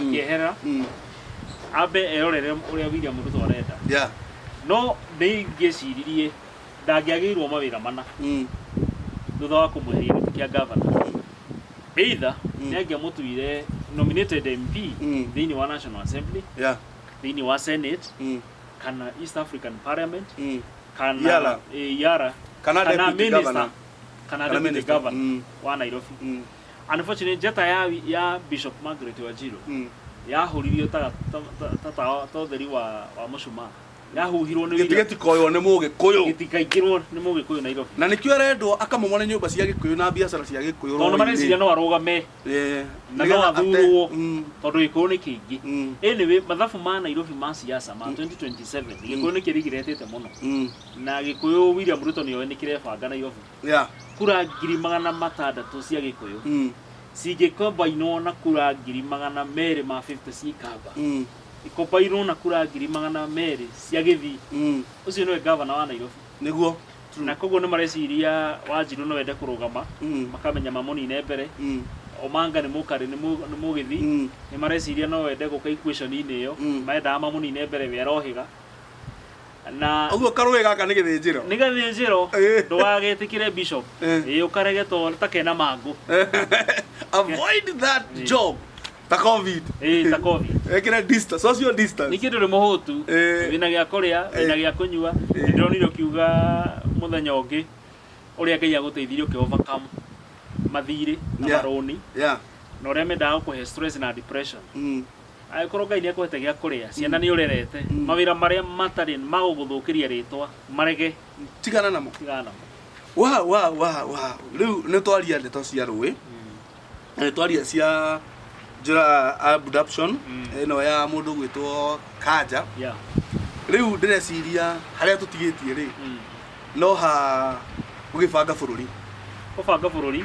akĩehera Mm. ambe erorere ũrĩa William Ruto arenda Yeah. no nĩ ingĩciririe ndangĩagĩirwo mawĩra mana Mm. thutha wa kũmweheria gĩtĩ kĩa gavana either Mm. nĩ angĩamũtuire nominated MP Mm. thĩinĩ wa National Assembly Yeah. thĩinĩ wa Senate Mm. kana East African Parliament Mm. kana Yara. eh, Yara Kana deputy minister, governor. kana Kana deputy minister. governor Mm. wa Nairobi Mm. Unfortunately, njata ya, ya Bishop Margaret Wanjiru Mm. yahũririo ta, ta, ta, ta, ta, ta ũtheri wa, wa mũcumaa yahuhirwo nĩ gĩtĩ wira gĩtikoywo nĩ mũgĩkũyũ gĩtikaingĩrwo nĩ mũgĩkũyũ Nairobi na nĩkĩo arendwo akamomore nyũmba cia gĩkũyũ na biacara cia gĩkũyũ tondũ mareciria no arũgame Eh, na no nĩgetha ate- athurwo Mm, tondũ gĩkũyũ nĩ kĩingĩ mm, anyway mathabu ma Nairobi ma siasa ma 2027 gĩkũyũ nĩ kĩrigiretĩte mũno mm. na gĩkũyũ William Ruto nĩoĩ nĩ kĩrebanga Nairobi Yeah. kura ngiri magana matandatũ cia gĩkũyũ Mm. cingĩkombainwo na kura ngiri magana merĩ ma 50 cia ikamba Mm. ikombainwo na kura ngiri magana merĩ cia gĩthii Mm. ũcio nĩwe gavana wa nairobi Nĩguo. True. na koguo nĩ mareciria wanjirũ no ende kũrũgama Mm. makamenya mamũnine mbere Mm. omanga nĩ mũkarĩ nĩ mũ- nĩ mũgĩthi Mm. nĩ mareciria no wende gũka equation-inĩ ĩyo Mm. maendaga mamũnine mbere we arohĩga Na. Ũguo karũĩ gaka nĩ gĩthĩnjĩro. Nĩ gathĩnjĩro. Ĩĩ. Ndũgagĩtĩkĩre bishop. Ĩĩ. Ĩĩ ũkarege to ta kena mangũ. Avoid that job. Ta Covid. Ĩĩ ta Covid. Wĩkĩre distance, social distance. Ningĩ ndũrĩ mũhũtu. Ĩĩ. Wĩna gĩa kũrĩa, wĩna gĩa kũnyua. Ĩĩ. Nĩ ndĩronire ũkiuga mũthenya ũngĩ ũrĩa Ngai agũteithirie ũkĩ overcome mathirĩ na Yeah. marũni Yeah. na ũrĩa mendaga gũkũhe stress na depression. Mm. Angĩkorwo Ngai nĩekũhete gĩa kũrĩa, ciana nĩũrerete, mawĩra marĩa matarĩ magũgũthũkĩria rĩtwa marege, Tigana namo. tigana namo. Wa wa wa wa. Rĩu nĩtwaria ndeto cia rũĩ. Na nĩtwaria cia njĩra abduction Mm. ĩno ya mũndũ gwĩtwo Kanja. Yeah. Rĩu ndĩreciria harĩa tũtigĩtie rĩ, Mm. no ha gũgĩbanga bũrũri. Gũbanga bũrũri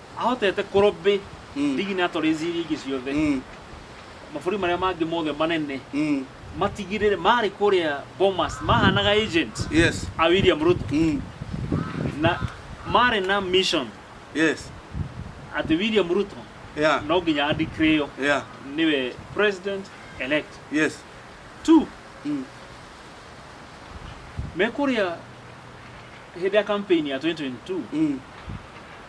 ahotete kũrobĩ Mm. ligi na atwarĩ ici iria ingĩ ciothe Mm. mabũrũri marĩa mangĩ mothe manene Mm. matigirĩre marĩ kũrĩa bomas mahanaga agent Yes. a william ruto Mm. na marĩ na mission Yes. atĩ william ruto Yeah. no nginya andikirĩo Yeah. nĩwe president elect Yes. two Mm. me kũrĩa hĩndĩ ya campaign ya 2022 Mm.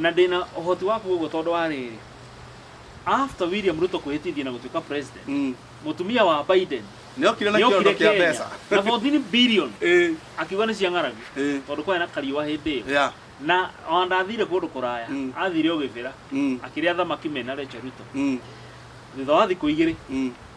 Na ndĩ na ũhoti wa kuuga ũguo tondũ wa rĩrĩ, after William Ruto kwĩhĩtithia na gũtuĩka president, Mm. mũtumia wa Biden Nĩokire na nĩokire kĩondo kĩa Kenya mbeca. na 14 billion Ĩĩ, akiuga nĩ cia ng'aragu ĩĩ, tondũ kwarĩ na kariũa hĩndĩ ĩyo yeah, na ona ndathire kũndũ kũraya Mm. athire o gĩbĩra mm, akĩrĩa thamaki mena Rachel Ruto mm, thutha wa thikũ igĩrĩ mm.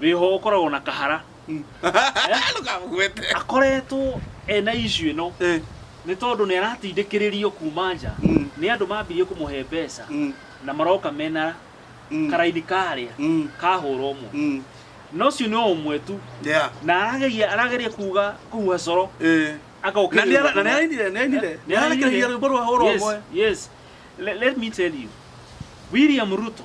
wĩho ũkoragwo na kahara Ndũkamũgwete. akoretwo ena ishu ĩno Eh, nĩ tondũ nĩ aratindĩkĩrĩrio kuma nja Mm. nĩ andũ mambirie kũmũhe mbeca mm, na maroka mena mm, karaini karĩa mm, kahũra ũmwe mm. na ũcio nĩ o ũmwe tu Yeah. na arageria arageria kuga kuhuha coro Eh. Na nĩ ara- na nĩ arainire, nĩ arainire. Nĩ ararekereria rwĩmbo rwa hũra ũmwe. Yes, yes. Let, let me tell you. William Ruto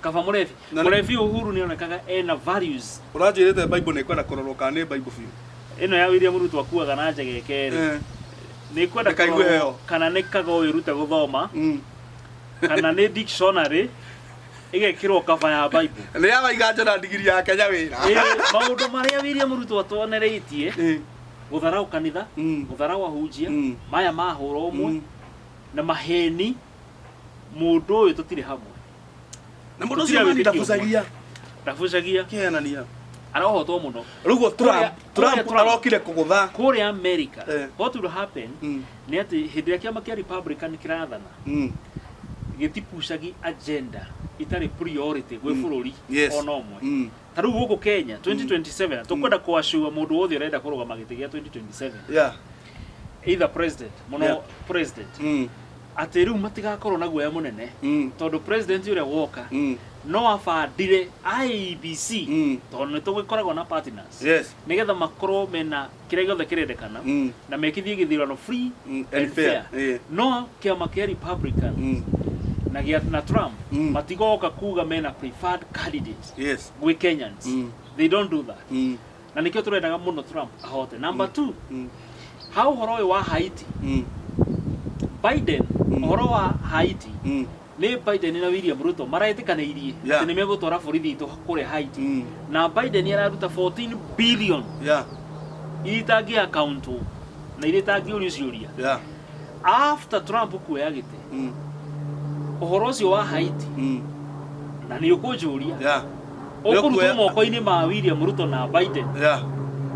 kaba mũrebi Na nĩ- mũrebi uhuru nĩ onekaga ena values ũranjĩrĩte bible nĩ kwenda kũrorwo kana nĩ bible biũ ĩno ya William Ruto akuaga na njega ĩkerĩ Eh, nĩ kwenda Reka igue kũrorwo heyo. kana nĩ kaga ũyũ rute gũthoma mm. kana nĩ dictionary ĩgekĩrwo kaba ya bible nĩ ya waiga njona ndigiri ya kenya wĩra Ĩĩ, maũndũ marĩa William Ruto atwonereitie Eh, gũtharaũ kanitha mm, gũtharaũ ahunjia Mm. maya mahũra ũmwe mm. na maheni Mũndũ ũyũ tũtirĩ hamwe. Na mũndũ ũcio mani ndabucagia. Ndabucagia. Kĩhenania. Arohotwo mũno. Rĩu guo Trump, Trump arokire kũgũtha. Kũrĩa America. Eh. What will happen mm. nĩ atĩ hĩndĩ ĩrĩa kĩama kĩa Republican kĩrathana mm. gĩtipucagi agenda itarĩ priority gwĩ mm. bũrũri ona ũmwe. ta rĩu gũkũ kenya 2027 tũkwenda kũacua mũndũ wothe ũrenda kũrũgama gĩtĩ gĩa 2027 yeah either president mũno Yeah. president mm atĩ rĩu matigakorwo na guoya mũnene mm tondũ president ũrĩa woka mm no abandire IEBC Mm. tondũ nĩ tũgĩkoragwo na partners yes nĩgetha makorwo mena kĩrĩa gĩothe kĩrendekana Mm. na mekithie gĩthurano free Mm, and and fair, fair. eh. no kĩama kĩa republicans Mm. na gĩa na trump Mm. matigoka kuga mena preferred candidates yes gwĩ kenyans Mm. they don't do that Mm. na nĩkĩo tũrendaga mũno trump ahote number two Mm. ha ũhoro ũyũ wa haiti Mm. biden Mm. ũhoro wa haiti Mm. nĩ Biden na William Ruto maretĩkanĩirie Yeah. atĩ nĩ megũtwara borithi itũ kũrĩa Haiti Mm. na Biden araruta 14 billion Yeah. iria itangĩ accountwo na iria itangĩũrio ciũria Yeah. after Trump kuoya gĩtĩ Mm. ũhoro ũcio wa Haiti Mm. na nĩ ũkũnjũria Yeah. ũkũrutwo Nĩũkuoya- moko-inĩ ma William Ruto na Biden Yeah.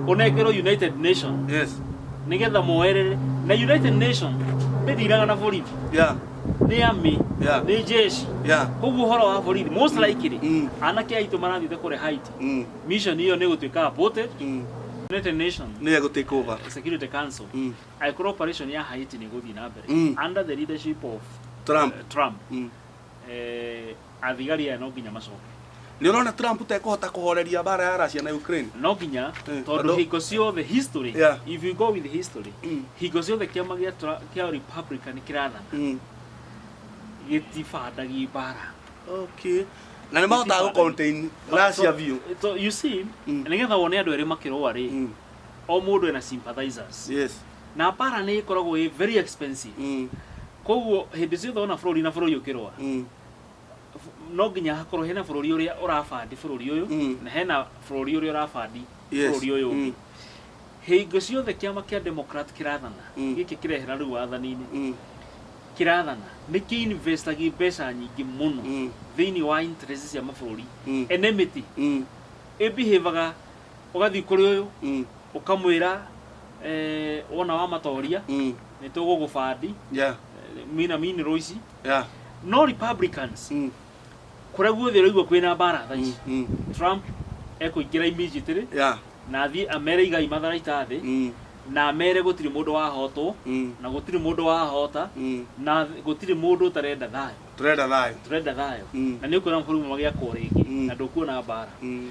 ũnengerwo United Nations Yes. nĩgetha moerere na United Nations ndĩthiraga na borithi Yeah. nĩ army Yeah. nĩ jeshi Yeah. koguo ũhoro wa borithi most likely Mm. anake aitũ marathiĩte kũrĩa Haiti Mm. mission ĩyo nĩ gũtuĩka aborted Mm. United Nations Nĩ egũ take over. Security Council Mm. angĩkorwo operation ya Haiti nĩ gũthiĩ na mbere Mm. under the leadership of Trump. eh, Trump Mm. eh, Athigari aya no nginya macoke. Nĩ ũrona Trump ta ekũhota kũhoreria mbara ya Russia na Ukraine. No nginya Eh, tondũ andũ- hingo ciothe history Yeah. if you go with history Mm. hingo ciothe kĩama gĩa Tra- kĩa Republican kĩrathana Mm. gĩtibandagi mbara. Okay. Na nĩ mahotaga gũ contain Russia biũ. So, you see Mm. nĩgetha wone andũ erĩ makĩrũa rĩ Mm. o mũndũ ena sympathizers Yes. na mbara nĩ ĩkoragwo ĩ very expensive Mm. koguo hĩndĩ ciothe wona bũrũri na bũrũri ũkĩrũa Mm. no nginya hakorwo hena bũrũri ũrĩa ũrabandi bũrũri ũyũ Mm. na hena bũrũri ũrĩa ũrabandi Yes. bũrũri ũyũ ũngĩ Mm. hingo ciothe kĩama kĩa democrat kĩrathana Mm. gĩkĩ kĩrehera rĩu wathani-inĩ Mm. kĩrathana nĩ kĩinvestagi mbeca nyingĩ mũno Mm. thĩinĩ wa interest cia mabũrũri Mm. enemity Mm. ĩbihivaga ũgathiĩ kũrĩ ũyũ Mm. ũkamwĩra eh, wona wamatoria Mm. nĩ tũgũgũbandi Yeah. mina minero ici Yeah. no republicans Mm. kuria guothe uraigua kwina mbara thaa ici Mm. trump ekuingira immediately Yeah. na athiĩ amere igai matharaita thĩ Mm. na amere gũtirĩ mũndũ wahotwo Mm. na gũtirĩ mũndũ wahota Mm. na gũtirĩ mũndũ ũtarenda thayũ Turenda thayũ. tũrenda thayũ Mm. na nĩ ũkuona mabũrũri magĩakwo rĩngĩ Mm. na ndũkuona mbara Mm.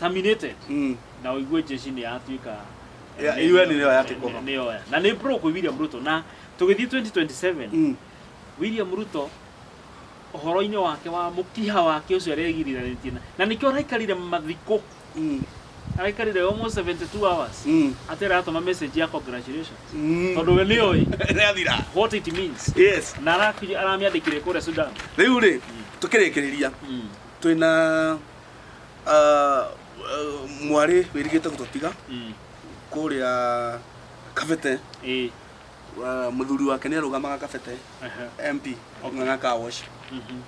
terminated Mm. na ũigue jeshi nĩ yatuĩka Ya- UN nĩyo ya take over. nĩyo ya- na nĩ bro kwĩ William Ruto na tũgĩthiĩ 2027 Mm. William Ruto ũhoro-inĩ wake wa mũkiha wake ũcio aregiriranĩtie na- na nĩkĩo araikarire mathikũ Mm. araikarire almost 72 hours Mm. atĩ aratũma message ya congratulations Mm. tondũ we nĩoĩ Nĩathira. what it means Yes. na araki- aramĩandĩkire kũrĩa Sudan rĩu rĩ tũkĩrĩkĩrĩria twĩna Ah, uh, mwarĩ wĩrigĩte gũtũtiga Mm. kũrĩa kabete Ĩĩ. Ah, mũthuri wake nĩ arũgamaga kabete Aha. mp ng'ang'a kawosh Mhm.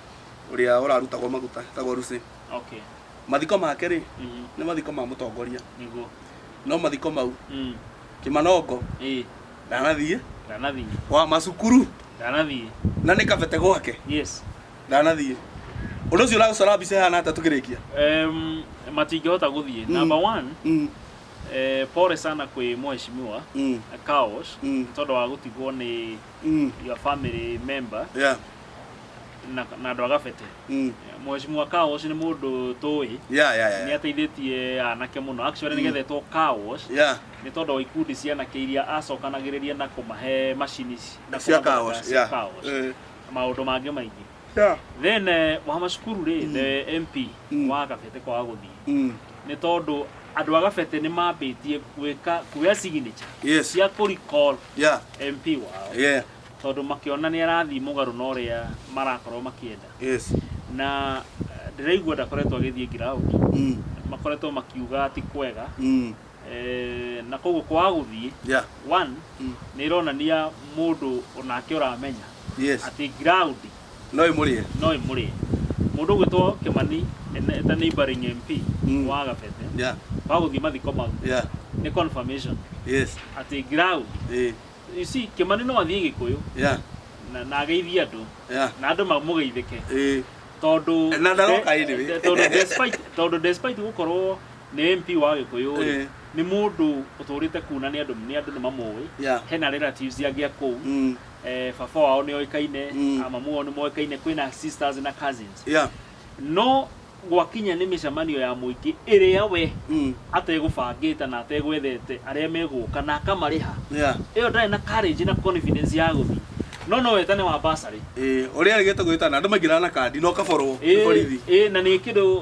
ũrĩa ũrarutagwo maguta tagwo rusi Okay. mathiko make rĩ Mhm. nĩ mathiko ma mũtongoria Nĩguo. no mathiko mau Mm. kĩmanongo Ĩĩ. ndanathiĩ Ndanathiĩ. wa macukuru Ndanathiĩ. na nĩ kabete gwake Yes. ndanathiĩ ũndũ ũcio ũragũcora mbica ĩhana atĩa tũkĩrĩkia Em, matingĩhota gũthiĩ Mm. number one Mm, eh, pole sana kwĩ mheshimiwa mm, Kaosh Mm. nĩ tondũ wa gũtigwo nĩ mm, your family member yeah, na na andũ a gabete mm, mheshimiwa Kaosh nĩ mũndũ tũĩ yeah, yeah, nĩ yeah, ateithĩtie anake mũno actually Mm. nĩgethetwo Kaosh yeah, nĩ tondũ wa ikundi cia anake iria acokanagĩrĩria na kũmahe macini ici- na cia kũmathondeka kaosh cia yeah, Kaosh. eh, na maũndũ mangĩ maingĩ Yeah. then eh, Wahama Cukuru rĩ Mm. the MP Mm. wa Kabete kwaga gũthiĩ Mm. nĩ tondũ andũ a Kabete nĩ mambĩtie gwĩka kuoya signature Yes. cia kũ recall Yeah. MP wao Yeah. tondũ makĩona nĩ arathiĩ mũgarũ na ũrĩa marakorwo makĩenda Yes. na eh, ndĩraigua ndakoretwo agĩthiĩ ground Mm. makoretwo makiuga ti kwega Mm. Eh, na koguo kwaga gũthiĩ Yeah. one Mm. nĩ ĩronania mũndũ onake ũramenya Yes. atĩ ground No ĩmũrĩe. no ĩmũrĩe mũndũ ũgwĩtwo kĩmani ene- eta neighboring mp Mm. wa gabete Yeah. wagũthiĩ mathiko mau Yeah. nĩ confirmation Yes. atĩ ground Eh. you see kĩmani no athiĩ gĩkũyũ Yeah. na- na ageithie andũ Yeah. na andũ mamũgeithĩke Eh. tondũ Na ndaroka de- anyway. tondũ despite tondũ despite gũkorwo Nĩ MP wa Gĩkũyũ rĩ, Eh. nĩ mũndũ ũtũrĩte kũu na nĩ andũ nĩ andũ nĩ mamũĩ. Yeah. Hena relatives angĩ a kũu. Mm. Eh, baba wao nĩ oĩkaine, Mm. a mamu wao nĩ moĩkaine, kwĩna sisters na cousins. Yeah. No gwakinya nĩ mĩcemanio ya mũingĩ ĩrĩa we Mm. ategũbangĩte na ategwethete arĩa megũka na akamarĩha. Yeah. Ĩyo ndarĩ na courage na confidence ya gũthiĩ. No no wetane wa bursary. Eh, ũrĩa erĩgĩte gwĩtana andũ maingĩraga na kandi na ũkaborwo nĩ borithi. Ĩĩ, ĩĩ, na nĩ kĩndũ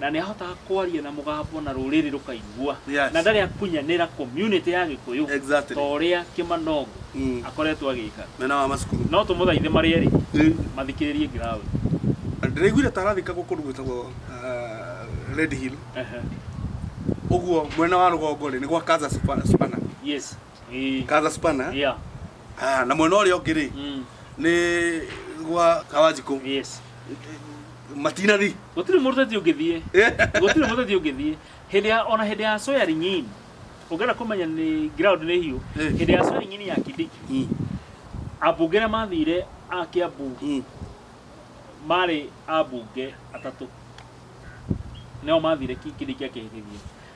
Na nĩ ahotaga kwaria na mũgambo na rũrĩrĩ rũkaigua. Yes. Na ndarĩ akunyanĩra community ya Gĩkũyũ Exactly. ta ũrĩa Kĩmanongo Mm. akoretwo agĩka. Mwena wa macukuru. No tũmũthaithe marĩ erĩ Rĩu, mathikĩrĩrie ground. ndĩraiguire ta arathikagwo kũndũ gwĩtagwo uh, Red Hill. Ehe. Ũguo mwena wa rũgongo rĩ nĩ gwa Kaza Supa- Supana. Yes. Ii. kaza spana Yeah. ah, na mwena ũrĩa ũngĩ rĩ Mm. nĩ gwa kawanjikũ Yes. matinari Gũtirĩ mũruteti ũngĩthiĩ. Gũtirĩ mũruteti ũngĩthiĩ. Hĩndĩ ya ona hĩndĩ ya soyari nyinyi. Ũngĩenda kũmenya nĩ ground nĩ hiũ. Eh. Hĩndĩ ya soyari nyinyi ya Kindiki. Mm, Ambunge arĩa mathire a Kiambu mm. marĩ ambunge atatũ. Nao mathire Ki- Kindiki akĩhĩtithia.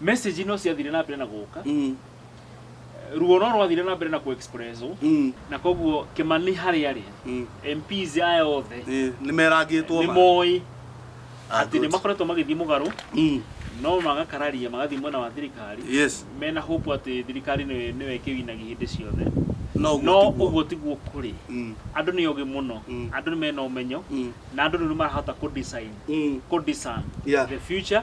message no ciathire na mbere na gũka Mm. ruo no rwathire na mbere na ku expresswo Mm. na koguo kimani harĩa arĩ Mm. MPs aya othe Eh, nĩ merangĩtwo nĩ ma. moĩ Ah, atĩ nĩ good. makoretwo magĩthiĩ mũgarũ Mm. no magakararia magathiĩ mwena wa thirikari Yes. mena hope atĩ thirikari nĩwe nĩwe ĩkĩwinaga hĩndĩ ciothe No ũguo no tiguo. ũguo tiguo kũrĩ Mm. andũ nĩ ogĩ mũno Mm. andũ nĩ mena ũmenyo Mm. na andũ rĩu nĩ marahota kũ design Mm. kũ discern Yeah. the future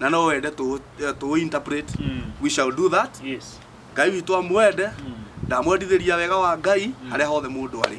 na no wende tũ tũ interpret Mm. we shall do that yes ngai witũ amwende ndamwendithĩria wega wa ngai harĩa hothe mũndũ arĩ